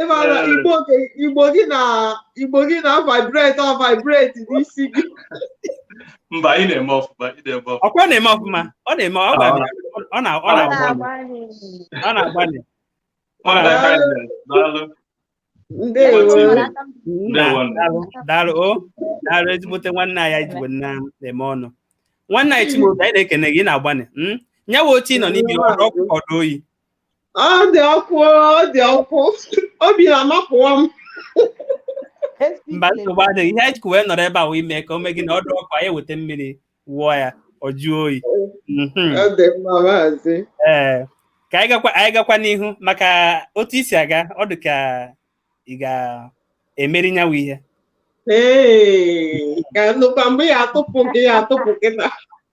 ị mara Igbo gị na Igbo gị na vibrate ọ vibrate n'isi gị mba ị na-eme ọfụma ị na-eme ọfụma ọkwa na-eme ọfụma ọ na-eme ọ na-agbalị daalụ o daalụ ezigbote nwanne anyị anyị ji unu na-eme ọnụ nwanne anyị Chimaobi anyị na-ekene gị ị na-agbanị nya wụ oche ị nọ n'ime ọ dụ ọkụ ọ dụ oyi ọ dị ọkụ ọ dị ọkụ obi na-amapụwa m mba nsogbu adịghị ihe anyị ji wee nọrọ ebe a wee mee ka o mee gị na ọ dụ ọkụ anyị weta mmiri wụọ ya ọ jụọ oyi mhm. ọ dị mma maazị ee ka anyị gakwa anyị gakwa n'ihu maka otu i si aga ọ dị ka ị ga-emeri nya wụ ihe ee ka nnukwu mgbe ya atụpụ gị ya atụpụ gị na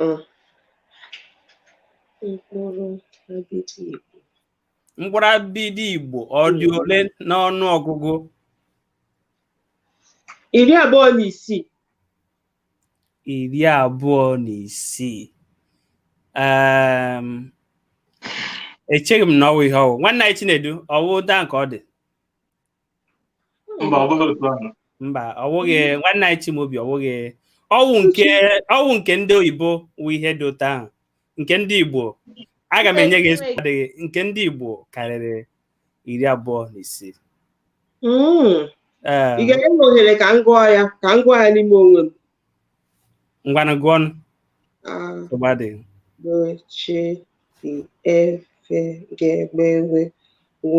Mm. Mkpụrụ abịdị Igbo. Mkpụrụ abịdị Igbo ọ dị mm. ole n'ọnụ ọgụgụ? Iri abụọ na isii. Iri abụọ na isii. Um, echeghị m na ọ wụ ihe ọ wụ. Nwanne anyị Chinedu, ọ wụ daa nke ọ dị. mba ọ bụghị otu ahụ mba ọ wụghị nwanne anyị Chimaobi ọ wụghị ọ wụ nke ọ wụ nke ndị oyibo wụ ihe dị otu ahụ nke ndị Igbo aga m enye gị nsogbu adịghị nke ndị Igbo karịrị iri abụọ na isii Mm. Ee, ị ga-enye m ohere ka m gụọ ya ka m gụọ ya n'ime onwe m ngwanụ gụọnụ, Ah, nsogbu adịghị a b ch d e f g gb gh gw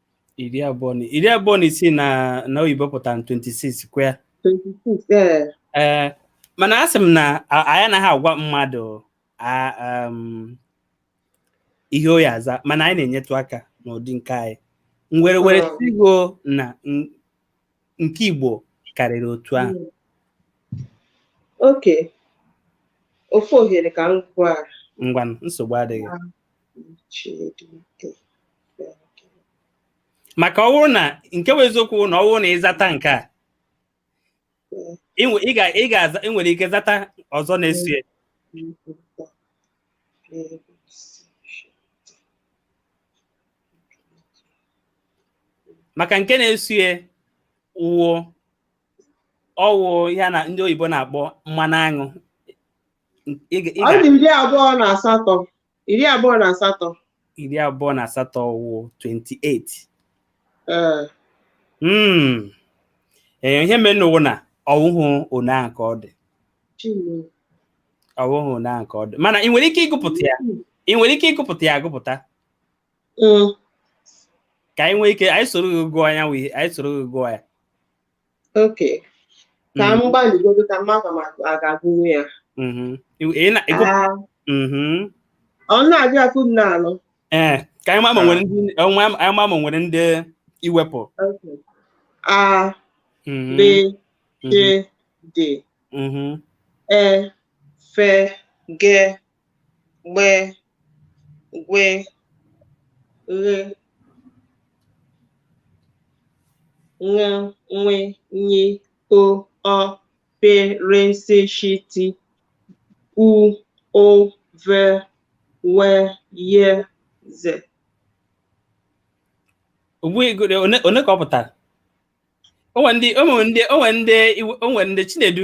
iri abụọ na iri abụọ na isii na na oyibo pụtara 26 kwa ya 26 ee ee mana asị m na a- anyị anaghị agwa mmadụ a- um, ihe ọ ya-aza mana anyị na-enyetụ aka n'ụdị nke anyị nwere were Mm. sigo na n- nke igbo karịrị otu ahụ okay ofu ohere ka m gwa ngwa nsogbu adịghị maka ọ bụrụ na nke bụ eziokwu na ọ bụrụ na ị zata nke a ị ga-aza ị nwere ike zata ọzọ na-eso ya maka nke na-eso ya wụ ọ wụ ya na ndị oyibo na-akpọ mmanụ aṅụ ọ dị iri abụọ na asatọ iri abụọ na asatọ iri abụọ na asatọ wụ 28 ee Mm. Ee, ihe merenụ wụ na ọ wụhụ one ahụ ka ọ dị Chineke. ọ wụhụ one ahụ ka ọ dị mana ị nwere ike ịgụpụta ya ị nwere ike ịgụpụta ya agụpụta Mm. ka anyị nwee ike anyị soro gị gụọ ya wee anyị soro gị gụọ ya okay ka m mm-hmm. gbalịgodo ka m ma m ga-agụnwu ya mm-hmm. ah. mm-hmm. ọ na-adị akụ m na-alụ ee eh, ka anyị ma ma nwere ndị anyị ma ma nwere ndị i wepụ a b c d e fe ge gbe gwe ghe ṅa ṅwe nyi o ọ pe re se shi ti u ụ ve we ye ze ogbu ego dị one one ka ọ pụtara o nwe ndị o nwe ndị o nwe ndị i we- o nwe ndị chinedu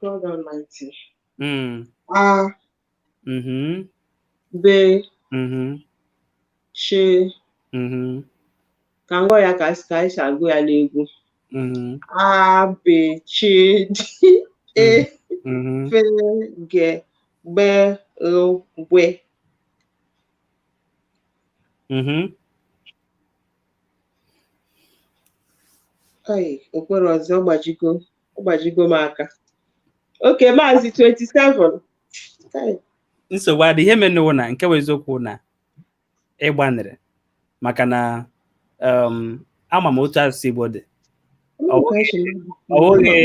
God Almighty. Mm. A. Mm-hmm. B. Mm-hmm. C. Mm-hmm. Ka m gụọ ya ka ka anyị si agụ ya n'egwu. Mm-hmm. A, B, C, D, E, mm-hmm. F, G, GB, GH, GW. Mm-hmm. ugboro ọzọ gbajigo gbajigo m aka okay maazị 27 nsogbu adịghị ihe menụ wụ na nke bụ eziokwu na ị gbanịrị maka na ama m otu asụsụ Igbo dị ọ wụghị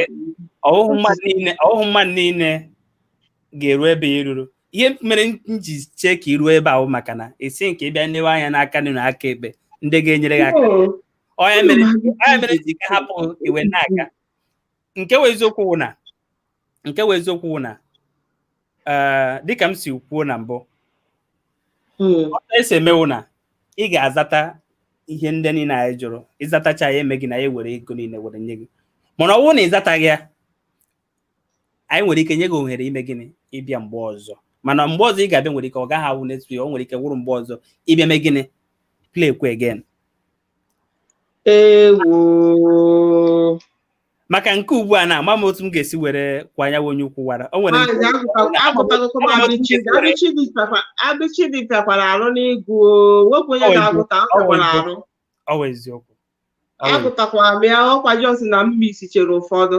mmadụ niile ga-eru ebe a i ruru ihe mere m ji chee ka i ruo ebe ahụ maka na esi nke ịbịa nlewe anya n'aka nri na aka ekpe ndị ga-enyere gị aka Oh, onye mere onye mere ji ka hapụ iwe n'aka nke wụ eziokwu wụ na nke wụ eziokwu wụ na eh, dịka m si kwuo na mbụ mm, otu e si eme wụ na ị ga-azata ihe ndị niile anyị jụrụ ị zatacha anyị emee gịnị anyị ewere ego niile were nye gị mana ọ bụrụ na ị zataghị ya anyị nwere ike nye gị ohere ime gịnị ịbịa mgbe ọzọ mana mgbe ọzọ ị ga-abịa nwere ike ọ gaghị awụ next week o nwere ike wụrụ mgbe ọzọ ị bịa mee gịnị play kwa again ewo maka nke ugbu a na ama m otu m ga-esi were kwa anyanwụ onye ukwu wara o nwere Maazị nke- agụta- agụtagokwa m abịchịdị- abịchịdị fịakwa- abịchịdị fịakwara arụ n'ịgụ o. Wepụ onye Ọ bụ- na-agụta ọ ọ fịakwara bụ- arụ ọ bụ eziokwu agụtakwara m ya ọkwa just na m misichara ụfọdụ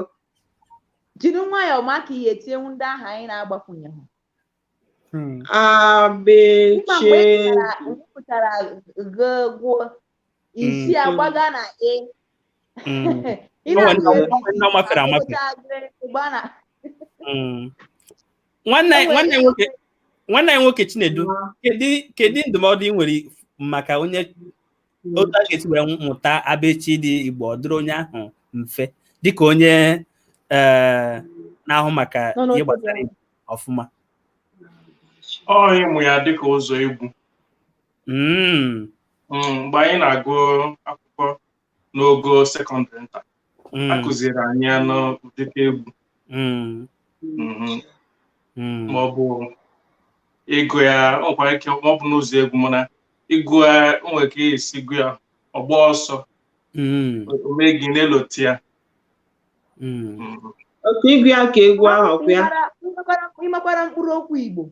jiri nwayọọ maka ihe etinyewu ndị ahụ anyị na-agbakwunye ha hmm. abịchị pụtara ghe gwuo isi hmm, agbaga na e nwanne anyị nwoke nwanne anyị nwoke Chinedu kedu ndụmọdụ ị nwere maka onye hmm. otu a ga-esi wee mụta abịchịdị igbo ọ dịrị onye ahụ mfe dịka onye eh, na-ahụ maka ihe gbasara ọfụma ọ ịmụ ya dịka ụzọ egwu hmm. Hmm, mgbe anyị na-agụ akwụkwọ n'ogo sekọndịrị nta Mm. a kụziri anyị ya n'ụdịka egwu Mm. mhm, Mm. ma ọ bụ ịgụ ya ọ nwekwara ike ma ọ bụ n'ụzọ egwu mana ịgụ ya o nwere ka e si gụ ya ọgba ọsọ Mm. o mee gị na-elote ya Mm. mhm. okay ịgụ ya ka egwu ahụ ọkwa ya Ị makwara- ị makwara mkpụrụ okwu igbo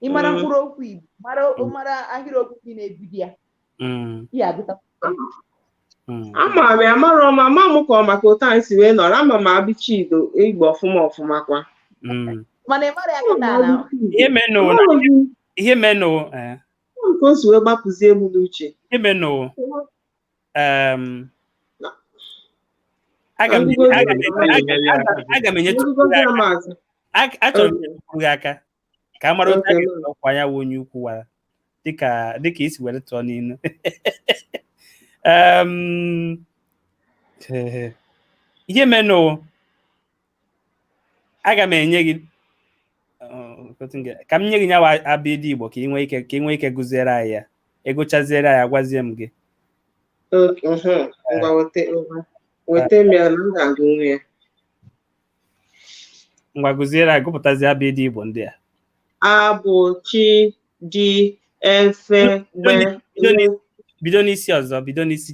ị mara mkpụrụ okwu igbo mara mara ahịrịokwu ndị na-ebido ya ya agụta ama m ya mara ọma amarọ m ka ọ maka otu anyị si wee nọrọ ama m abịchịdị igbo ọfụma ọfụma kwa mana ị mara ya kịta na ihe menụ ihe menụ ka o si wee gbapụzie m n'uche ihe menụ aga m enyetụ achọrọ m ịkwụ gị aka ka a mara otu a ga-esi ọkwa ya wụ onye ukwu wara dịka dịka i si were tụọ n'ilu ihe menụ aga m enye gị ka m nye gị nyawa abịdị igbo ka ị nwee ike ka ị nwee ike gụziere anyị ya ị gụchaziere anyị agwazie m gị ngwa gụziere anyị gụpụtazi abịdị igbo ndị a a b ch d e f bido n'isi ọzọ bido n'isi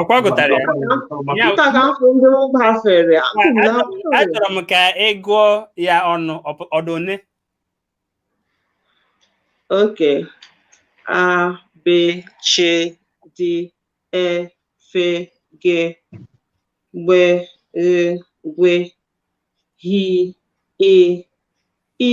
ọkwa gụtara ya achọrọ m ka ị gụọ ya ọnụ ọ dụ one okay a b ch d e f g gb ghe gwe hi i ị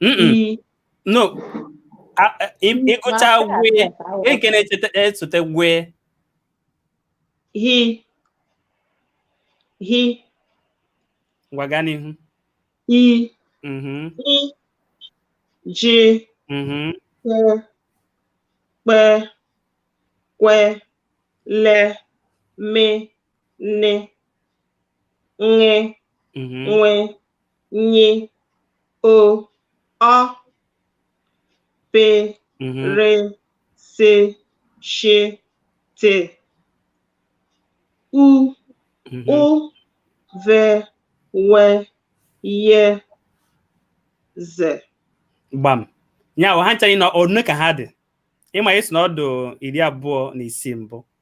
Mm-mm. no A- a- ị- ị gụcha gwe gwe nke na-esote gwe He. He. ngwa gaa n'ihu I. Mhm, Ị. Ji. mhm. Ke. Kpe. Kwe. Le. Me. Ne. Ṅe. Mhm, Nwe. nye o ọ pe mm-hmm. re se she te u mm-hmm. ụ ve we ye ze gbam ya ha nchaghị na one ka ha dị ị ma ị sị na ọ dụ iri abụọ na isii mbụ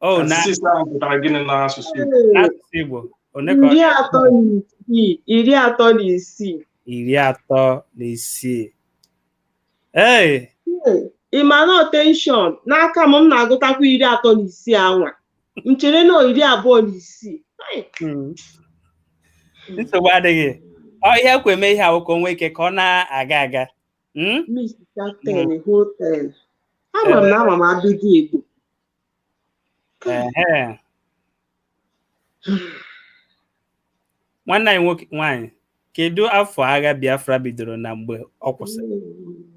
o na thirty-six ahụ pụtara gịnị n'asụsụ Igbo? n'asụsụ Igbo one ka ọ iri atọ na isii iri atọ na isii iri atọ na isii ee ị ma na tension n'aka m m na-agụtakwa iri atọ na isii anwa m chere na iri abụọ na isii Ai, mm. nsogbu adịghị ọ ihe kwe mee ihe a wụ ka o nwee ike ka ọ na-aga aga Hmm? Mr. Ten, hmm. whole ten. Ama m na ama m abịdị Igbo. Nwanne anyị nwoke nwaanyị, kedu afọ agha Biafra bidoro na mgbe ọ kwụsịrị? Hmm.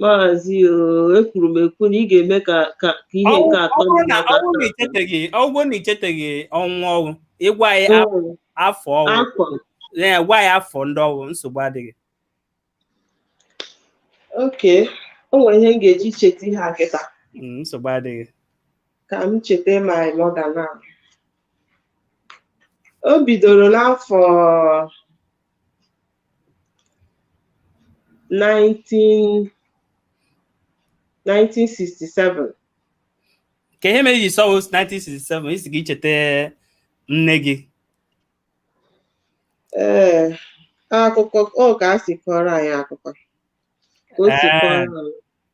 maazị oo ekwuru m ekwu na ị ga-eme ka ka ka ihe nke atọ ọ wụ na mmadụ ọ wụ na atọ. i cheteghị ọ wụ na i cheteghị ọnwa ọ wụ ị gwa anyị af- Mm, afọ ọ wụ afọ ee, gwa anyị afọ ndị ọ wụ nsogbu adịghị okay o nwere ihe m ga-eji cheta ihe a kịta Mm, nsogbu adịghị ka m cheta ma mọda na o bidoro n'afọ 19 1967 kee ihe mere iji sị ọwụ 1967 isi gị icheta nne gị ee akụkọ ọ ka a si kọrọ anyị akụkọ ka o si Ee. kọrọ anyị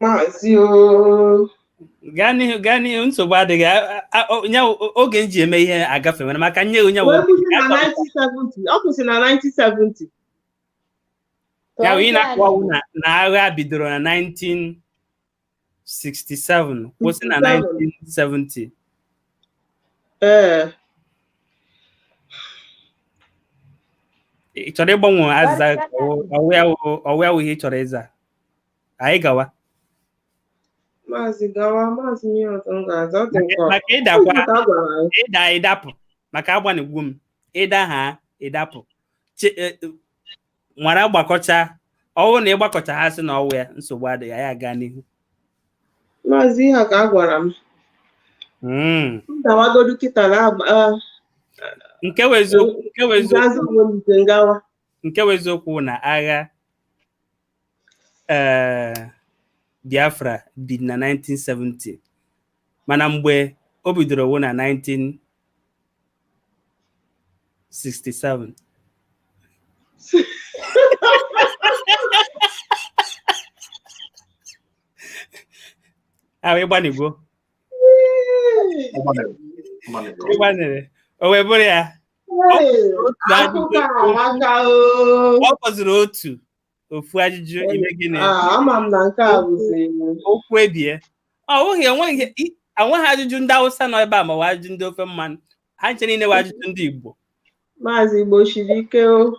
maazị o gaa n'ihu gaa n'ihu nsogbu adịghị A- a- a- o- nya o- oge m ji eme ihe agafe nwere maka nye onye wee kwụsị na 1970 ọ kwụsị na 1970 ya wụ ị na-akọ wụ na na agha bidoro na 19 67 kwụsị na 1970 ee ị chọrọ ịgbanwe azịza ka ọ- ọwụ ya wụ- ọwụ ya wụ ihe ị chọrọ ịza anyị gawa maazị gawa maazị ihe ọzọ m ga-aza ọ dị nke ọzọ. maka ịdakwa Ọ gwara anyị. ịda ịdapụ maka agbanịgwo m ịda ha ịdapụ Che- e- e- nwara gbakọcha ọwụ na ịgbakọcha ha sị na ọwụ ya nsogbu adịghị ya gaa n'ihu maazị ihe ka a gwara m hmm. m dawagodu kịta na nke bụ eziokwu nke bụ eziokwu na agha eh, Biafra bi na 1970 mana mgbe o bidoro wụ na 1967 ahụ ịgbanịgwo ịgbanịrị o wee bụrụ ya ọ fọziri otu ofu ajụjụ ime gịnị Ah, ama m na nke a bụzi okwu ebie ọ bụghị enweghị i- enweghị ajụjụ ndị awụsa nọ ebe a ma ọ bụ ajụjụ ndị ofe mmanụ ha ncha niile bụ ajụjụ ndị igbo maazị igbo siri ike o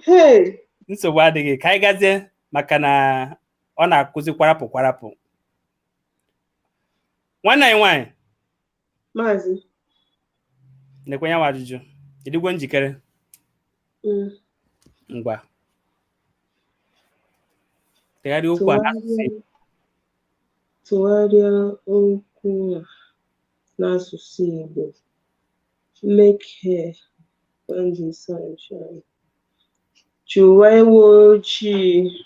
Hey, nsogbu adịghị ka anyị gazie maka na ọ na-akụzi kwarapụ kwarapụ nwanne anyị nwaanyị Maazị. Nekwa ya wa ajụjụ. Ịdịgwo njikere? Mm. Ngwa. Tụgharịa okwu a n'asụsụ Tụgharịa okwu a n'asụsụ Igbo. Make hay when the sun shine. Chụwa ewu ojii.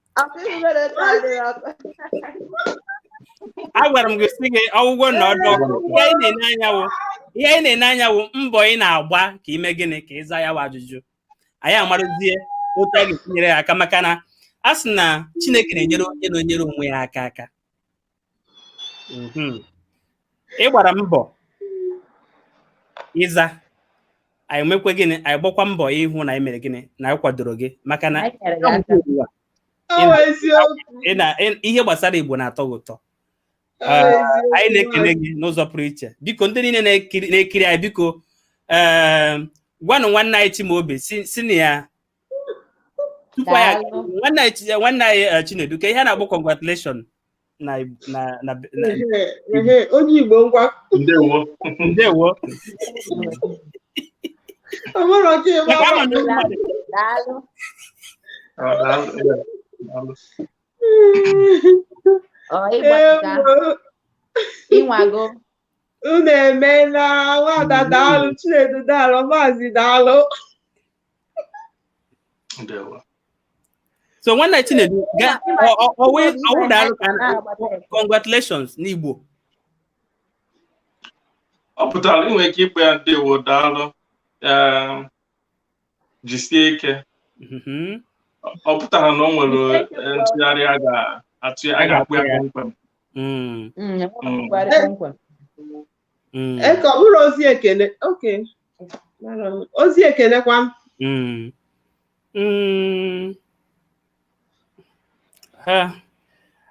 agwara m gị sị gị ọgwụgwọ na ọ dị ọkụ ihe anyị na-ene anya wụ ihe anyị na-ene anya wụ mbọ ị na-agba ka ime gịnị ka ịza ya wa ajụjụ anyị amarọzie otu a ga-esi nyere ya aka maka na a sị na Chineke na-enyere onye na-enyere onwe ya aka aka mhm. ị gbara mbọ ịza anyị mekwa gịnị anyị gbakwa mbọ ịhụ na anyị mere gịnị na anyị kwadoro gị maka na ihe gbasara Igbo na-atọ gị ụtọ anyị na-ekene gị n'ụzọ pụrụ iche biko ndị niile na-ekiri anyị biko gwanụ nwanne anyị Chimaobi si na ya tupu ya nwanne anyị nwanne anyị eh, Chinedu kee ihe a na-akpọ congratulation na na na onye Igbo ngwa ndewo ndewo ị nwago unu emeela nwada daalụ chinedu daalụ maazị daalụ so nwanne Chinedu ọ wụ daalụ ka congratulations n'Igbo ọ pụtara i nwee ike ịkpọ ya ndewo daalụ jisie ike mm-hmm. ọ pụtara na o nwere eh, ntụgharị a ga-atụ ya a ga-akpọ ya kpọmkwem mm. Mm, mm. Mm, ka ọ bụrụ ozi ekele okay ozi ekele kwa m mm, mm. ha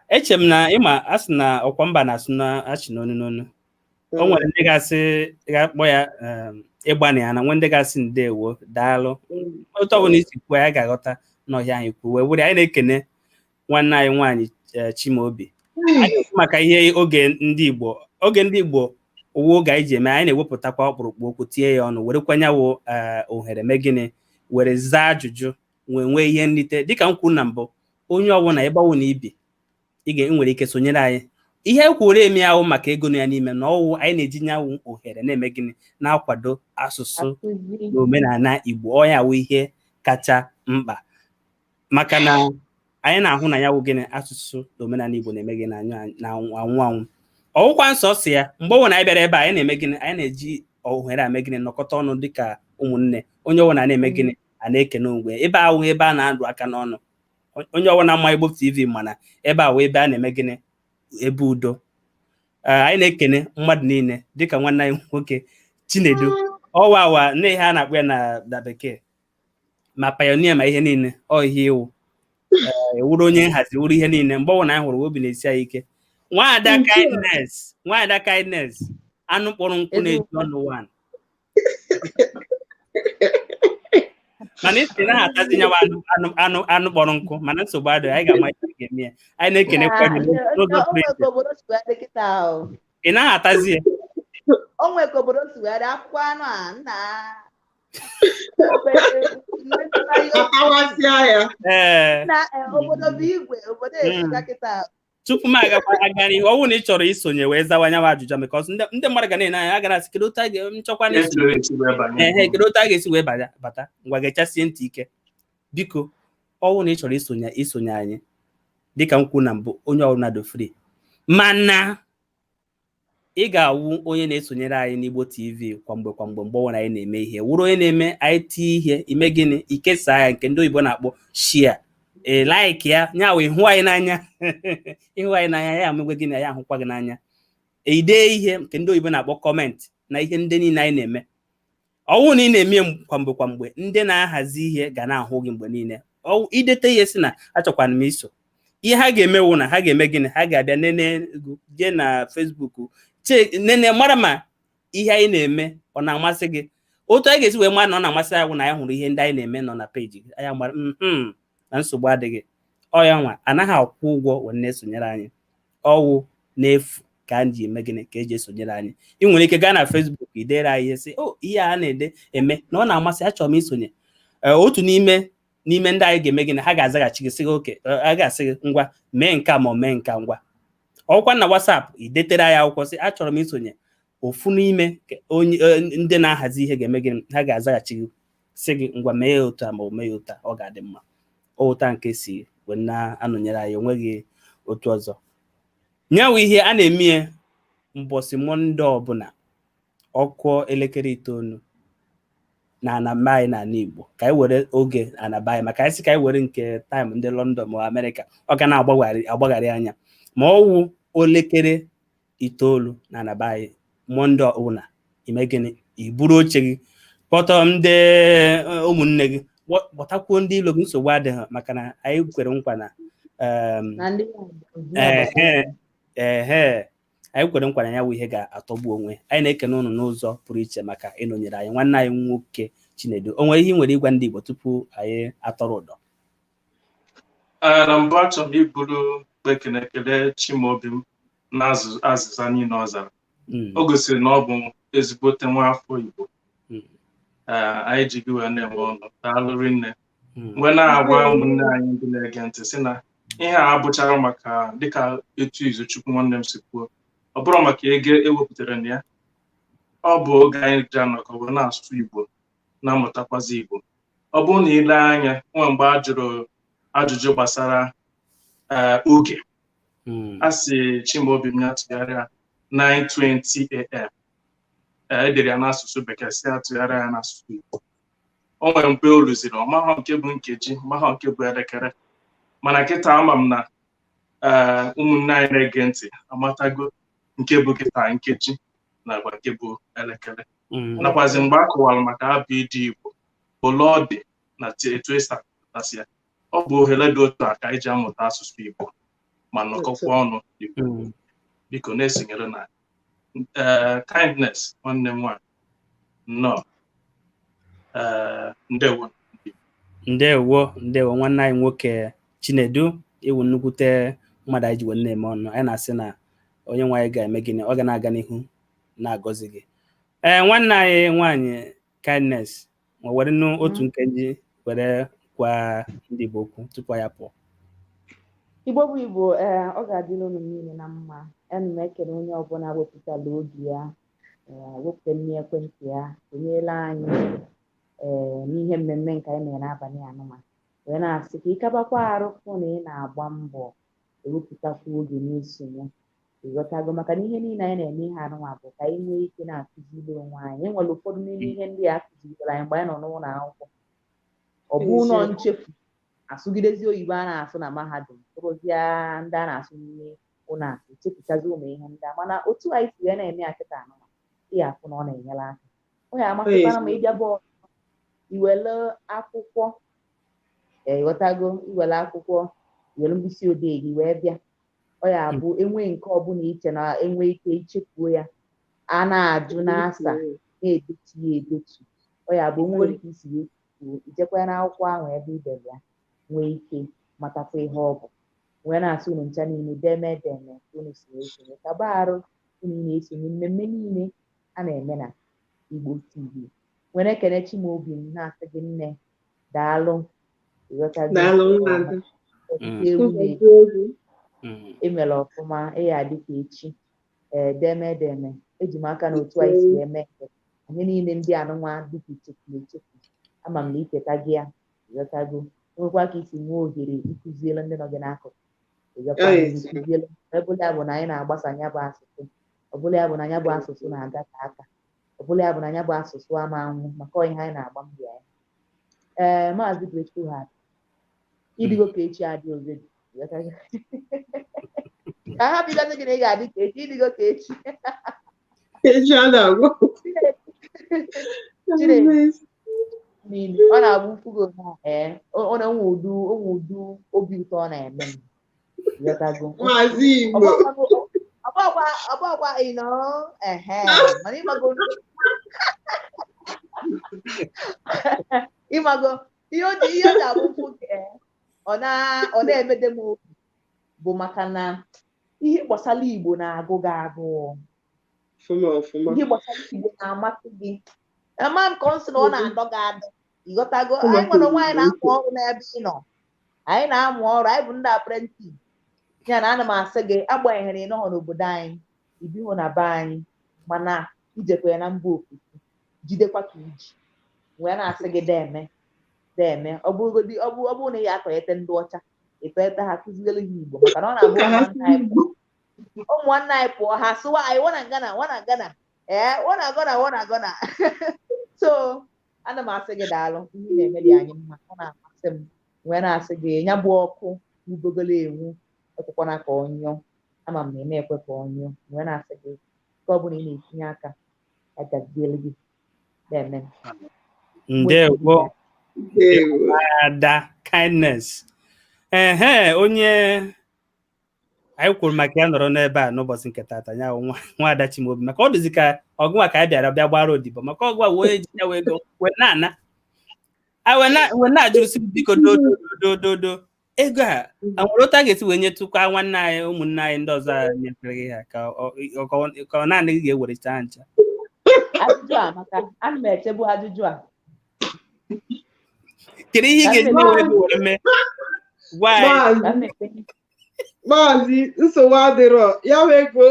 eche m na ị ma a sị na ọkwa mba na-asụ na-achị n'onu n'onu o nwere ndị ga-asị ga-akpọ ya um, ị gbanịana nwee ndị ga-asị ndewo daalụ otu ọwụna i si kwuo ya a ga-aghọta na ọọ ihe anyị kwuo wee were anyị na-ekene nwanne anyị nwaanyị eh, Chimaobi anyị maka ihe oge ndị Igbo oge ndị Igbo ọ wụ oge anyị ji eme anyị na-ewepụtakwa ọkpụrụkpụ okwu tinye ya ọnụ werekwa nya wụ eh, ohere mee gịnị were zaa ajụjụ nwee nwee ihe nrite dịka m kwuru na mbụ onye ọwụna ebe ọwụna i bi i nwere ike sonyere anyị ihe e kwuru eme awụ maka ego nọ ya n'ime na ọ wụ anyị na-eji nya wụ ohere na-eme gịnị na-akwado asụsụ na omenala Igbo ọ nya wụ ihe kacha mkpa maka na anyị na-ahụ na ya wụ gịnị asụsụ na omenala Igbo na-eme gịnị na-anwụ anwụ ọ wụkwa nsọ si ya mgbe ọwụna anyị bịara ebe anyị na-eme gịnị anyị na-eji ohere a eme gịnị nọkọta ọnụ dịka ụmụnne onye ọwụna na-eme gịnị a na-ekene onwe ebe awụ ebe a na-adụ aka n'ọnụ onye ọwụna ma Igbo TV ma na ebe a wụ ebe a na-eme gịnị ebe udo anyị na-ekene mmadụ niile dịka nwanne anyị nwoke Chinedu ọwa awa nne ihe a na-akpọ ya na bekee ma pioneer ma ihe niile ọ ihe ị wụ wụrụ eh, onye nhazi wụrụ ihe niile mgbe ọbụla anyị hụrụ obi na-esi anyị ike nwaada Kindness nwaada Kindness anụ kpọrọ nkụ na-eju ọnụ wan mana ị sị na atazi nyawa anụ anụ kpọrọ nkụ mana nsogbu adịghị anyị ga-ama ihe ga-eme ya anyị na-ekene kwa gị n'ụzọ pụrụ iche ị naghị atazi ya onwe ka obodo si were akwụkwọ anụ a nna ee tupu m agakwa aga n'ihu ọwụ na ị chọrọ isonye wee zawa nyawa ajụjụ because ndị mmadụ ga na-ene anya a gara asị kedu otu a ga-nchọkwa na ehe kedu otu a ga-esi wee bata ngwa gechasie ntị ike biko ọwụ na ị chọrọ isonye isonye anyị dịka m kwuru na mbụ onye ọbụla dị free mana ị ga-awụ onye na-esonyere anyị n'Igbo TV kwa mgbe kwa mgbe mgbe ọbụla anyị na-eme ihe wụrụ onye na-eme anyị tie ihe ime gịnị ikesa ya nke ndị oyibo na-akpọ share ee like ya nya wụ ịhụ anyị n'anya ị hụ anyị n'anya anyị emekwa gịnị anyị ahụkwa gị n'anya idee ihe nke ndị oyibo na-akpọ comment na ihe ndị niile anyị na-eme ọwụ na ị na-eme kwamgbe kwamgbe ndị na-ahazi ihe ga na-ahụ gị mgbe niile idete ihe sị na achọkwara m iso ihe ha ga-eme wụ na ha ga-eme gịnị ha ga-abịa nene jee na Facebook nene mara ma ihe anyị na-eme ọ na-amasị gị otu anyị ga-esi wee mara na ọ na-amasị anyị wụ na anyị hụrụ ihe ndị anyị na-eme nọ na peji gị anyị mara mm-hmm, na nsogbu adịghị ọ ya nwa anaghị akwụ ụgwọ wee na-esonyere anyị ọwụ n'efu ka anyị ji eme gịnị ka eji esonyere anyị ị nwere ike gaa na Facebook idere anyị ihe sị o oh, ihe a na-ede eme na ọ na-amasị achọrọ m isonye eh, otu n'ime n'ime ndị anyị ga-eme gịnị ha ga-azaghachi gị sị gị okay eh, a ga-asị gị ngwa mee nka ma ọ mee nka ngwa ọwụkwa na WhatsApp idetere anyị akwụkwọ sị achọrọ m isonye ofu n'ime onye eh, ndị na-ahazi ihe ga-eme gịnị ha ga-azaghachi gị sị gị ngwa mee ya otu a ma ọ mee ya otu a ọ ga-adị mma ọ otu a ka esi wee na-anọnyere anyị onweghị otu ọzọ nyawụ ihe a na-eme ya mbọsị mọnde ọbụla ọ kụọ elekere itoolu n'ana be anyị n'ana Igbo ka anyị were oge ana be anyị maka anyị sị ka anyị were nke time ndị London ma Amerịka ọ ga na-agbagharị anya ma ọ wụ elekere itoolu n'ana be anyị mọnde ọbụla ime gịnị iburu oche gị kpọtọ ndị eh, ụmụnne gị kpọ- kpọtakwuo ndị ilo gị nsogbu adịghị maka na anyị kwere nkwa na em, na ndị ehe ehe anyị kwere nkwa na ya wụ ihe ga-atọgbu onwe anyị na-ekene ụnụ n'ụzọ pụrụ iche maka ịnọnyere anyị nwanne anyị nwoke Chinedu o nwere ihe ị nwere ịgwa ndị Igbo tupu anyị atọrọ ụdọ Ee, na mbụ achọrọ m iburu ekele ekele Chimaobim na azụ- azịza niile ọ zara Mm, o gosiri na ọ bụ ezigbote nwa afọ Igbo Mm. Ee, anyị ji gị wee na-eme ọnụ daalụ rinne mm, m wee na-agwa ụmụnne anyị ndị na-ege ntị sị na ihe a abụcharọ maka dịka etu Izuchukwu nwanne m si kwuo ọ bụrọ maka ego e wepụtara na ya ọ bụ oge anyị ji anọkọ wee na-asụ Igbo na-amụtakwazi Igbo ọ bụrụ na i lee anya o nwe mgbe a jụrụ ajụjụ gbasara eh, oge hmm. a sị Chimaobim ya tụgharịa 9:20 am eh, e dere ya n'asụsụ bekee sị a tụgharịa ya n'asụsụ Igbo o nwere mgbe o ruziri ọ mahọ nke bụ nkeji mahọ nke bụ elekere mana kịta ama m na eh, ụmụnne anyị na-ege ntị amatago nke bụ kịta nkeji makwa nke bụ elekere mm. nakwazi mgbe a kọwara maka ABD Igbo ole ọ dị na etu e si apụtasị ya ọ bụ ohere dị otu a ka anyị ji amụta asụsụ Igbo ma nọkọkwa ọnụ mm. biko na-esonyere na eh, Kindness nwanne m nwaanyị nnọọ eh, ndewo ndewo ndewo nwanne anyị nwoke Chinedu ị wụ nnukwute mmadụ anyị ji wee na-eme ọnụ anyị na-asị na onye nwe anyị ga-eme gịnị ọ ga na-aga n'ihu na-agọzi gị ee nwanne anyị nwaanyị Kindness ma were nụ otu nkeji were gwa ndị Igbo okwu tupu anyị apụọ Igbo bụ Igbo ee ọ ga-adịlị unu niile na mma ana m ekele onye ọbụla wepụtala oge ya wepụta nni ekwentị ya sonyela anyị ee n'ihe mmemme nke anyị mere n'abalị anụnwa wee na-asị ka ị kabakwa arụ fụ na ị na-agba mbọ ewepụtakwu oge n'isonye ị ghọtago maka na ihe niile anyị na-eme ihe anụnwa bụ ka anyị nwee ike na-akụziri onwe anyị e nwere ụfọdụ n'ime ihe ndị a kụzirikwara anyị mgbe anyị nọ n'ụlọ akwụkwọ ọ bụlụ Eziokwu. nchefu a sụgidezi oyibo a na-asụ na mahadum sụrụzịa ndị a na-asụ n'ime ụlọ akụ chefuchazi ụmụ ihe ndị a mana otu anyị si wee na-eme ya kịta anụnwa ị ya-afụ na ọ na-enyere aka ọ ya-amasịkwara m ịbịa bọọlụ i were akwụkwọ ee, ị ghọtago i were akwụkwọ i were mkpịsị odee gị wee bịa ọ ya bụ e nwee nke ọbụla i che na e nwe ike ichefu ya a na-ajụ na-asa na-edetu ya edetu ọ ya bụ nwere ike isi wee kwuo ijekwa ya n'akwụkwọ ahụ ebe i dere ya nwee ike matakwa ihe ọ bụ wee na-asị unu ncha niile deme deme ka unu si wee sonye kaba arụ unu na-esonye mmemme niile a na-eme na Igbo TV nwere ekele Chimaobi m na-asị gị nne daalụ i mere mm. ọfụma ị ya-adị ka echi ee deme deme eji m aka na otu anyị si eme anyị niile ndị anụnwa dịka ichefu echefu ama m na icheta gị ya ịghọtago nwekwa ka i si nwee ohere ịkụziere ndị nọ gị n'akụkụ ịghọtago ịkụziere ebe ya bụ na anyị na-agbasa nya bụ asụsụ ọ bụla ya bụ na ya bụ asụsụ na-aga ka aka ọ bụla ya bụ na ya bụ asụsụ ama anwụ maka ihe anyị na-agba mbọ ya ee maazị Grateful Heart ịdịgo ka echi adịrọzi ka ha bidozi gị na ị ga-adị ka echi ịdịgo ka echi echi ana agwụ ọ na-abụ m fụ gị na ee ọ na-enwe ụdị o nwe ụdị obi ụtọ ọ na-eme m Ịghọtago? Maazị Igbo. Ọgbakwa ọgbakwa ị nọ ehe mana ịmago ịmago ihe o ji ihe o ji abụ m fụ gị ee, ọ na ọ na-emede m obi bụ maka na ihe gbasara Igbo na-agụ gị agụụ Ọfụma ọfụma. ihe gbasara Igbo na-amasị gị ama m ka ọ sị na ọ na-adọ gị adọ ịghọtago anyị nwa onwe anyị na-amụ ọrụ n'ebe ị nọ anyị na-amụ ọrụ anyị bụ ndị apprentice ya na ana m asị gị agbanyeghị na ị nọghọ n'obodo anyị i bighị na be anyị mana i jikwa ya na mba ofesi jidekwa ka i ji wee na-asị gị deme deme ọ bụrụgodi ọ bụ ọ bụrụ na ị ya-atọghete ndị ọcha ịtọghete ha kụziere ha Igbo maka na ọ na-abụ Ka ha ụmụnna anyị pụọ ụmụnna anyị pụọ ha sụwa anyị wanna gonna wanna gonna ee wanna gonna wanna gonna so ana m asị gị daalụ ihe ị na-eme dị anyị mma ọ na-amasị m wee na-asị gị ya bụ ọkụ ubogolo enwu ekwekwana ka ọ nyụọ ama m na ị ma-ekwe ka ọ nyụọ wee na-asị gị nke ọbụla ị na-etinye aka ya gaziere gị deme ndewo Ndewo. Ada Kindness ehe onye anyị kwuru maka ya nọrọ n'ebe a n'ụbọchị nke tata ya nwa nwada Chimaobi maka ọ dịzi ka ọ gụnwa ka anyị bịara bịa gbara odibo maka ọ gụwa wee ji ya wee go wee na-ana a wee na- wee na-ajụrụsi m, biko dododododo ego a a nwere otu a ga-esi wee nyetụkwa nwanne anyị ụmụnne anyị ndị ọzọ a nyefere gị ha ka ọ- ọ- ka ọ- ka ọ naanị gị ga-ewereta ha ncha ajụjụ a maka ana m echebu ajụjụ a kedu ihe ị ga-eji na-ewere gị were mee Why? Maazị- maazị nsogbu adịrọ ya bụ ego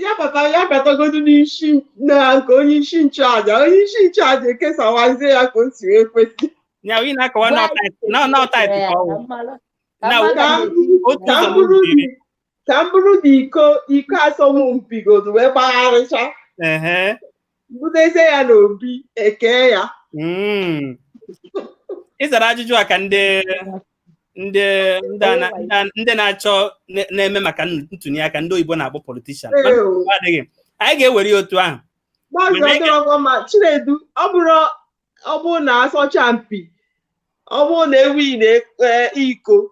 ya bata ya batagodu n'isi na nke onye isi nchụaja onye isi nchụaja ekesawazie ya ka o si wee kwesị Nya onye na-akọwa na ọ tithe na ọ tithe ka ọ wụ. Na Ka m bụrụ- Otu ka ụzọ m bụrụ n'obi iri. ka m buru gị iko iko asọmpi godu wee gbagharịcha ehe butezie ya n'obi ekee ya Mm. ị zara ajụjụ a ka ndị ndị ndị a na- ndị a- ndị na-achọ na- na-eme maka ntụnye aka ndị oyibo na-akpọ politishan Ee o. adịghị anyị ga-ewere ya otu ahụ Maazị Mana ị ga- Ọdụrọgwọ ma Chinedu ọ bụrụ ọ bụrụ na asọcha mpi ọ bụrụ na e winna e- iko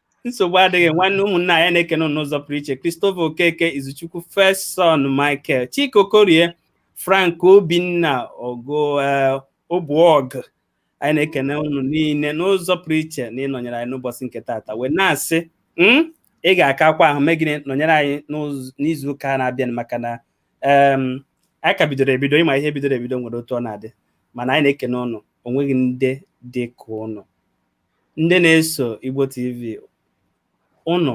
nsogbu adịghị nwanne ụmụnna anyị na-ekene n'ụzọ pụrụ iche Christopher Okeke Izuchukwu First Son Michael Chike Okorie Frank Obinna Ogo eh, Obuogu anyị na-ekene unu niile n'ụzọ pụrụ iche na ịnọnyere anyị n'ụbọchị nke taata wee na-asị hmm, ị ga-akakwa ahụ mee gịnị nọnyere anyị n'izu ụka na-abịa maka na anyị ka bidoro ebido ị ma ihe bidoro ebido nwere otu ọ na-adị mana anyị na-ekene ụnụ o nweghị ndị dị ka ụnụ ndị na-eso Igbo TV ụnụ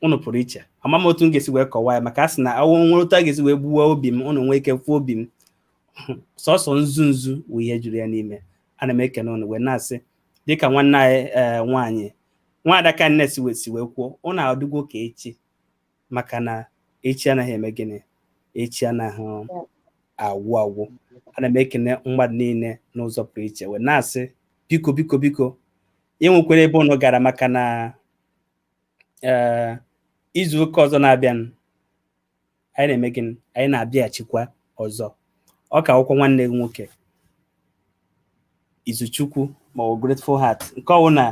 ụnụ pụrụ iche ama m otu m ga-esi wee kọwaa ya maka a sị na ọ wụ nwere otu a ga-esi wee gbuwa obi m ụnụ nwee ike fụ obi m sọsọ nzu nzu wụ ihe juru ya n'ime ana m ekene ụnụ wee na-asị dịka nwanne anyị eh, nwaanyị nwaada Kindness si wee kwuo ụnụ adịgwo ka echi maka na echi anaghị eme gịnị echi anaghị agwụ agwụ ana m ekene mmadụ niile n'ụzọ pụrụ iche wee na-asị biko biko biko e nwekwana ebe ụnụ gara maka na ee izu ụka ọzọ na-abịa anyị na-eme gịnị anyị na-abịaghachikwa ọzọ ọ ka wụkwa nwanne gị nwoke Izuchukwu ma ọ wụ Grateful Heart nke ọ wụna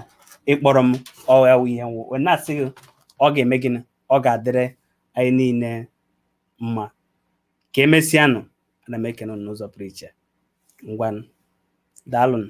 ị kpọrọ m ọ ya wụ ihe m wụ wee na-asị gị ọ ga-eme gịnị ọ ga-adịrị anyị niile mma ka emesịanụ ana m ekene unu n'ụzọ pụrụ iche ngwanụ daalụnụ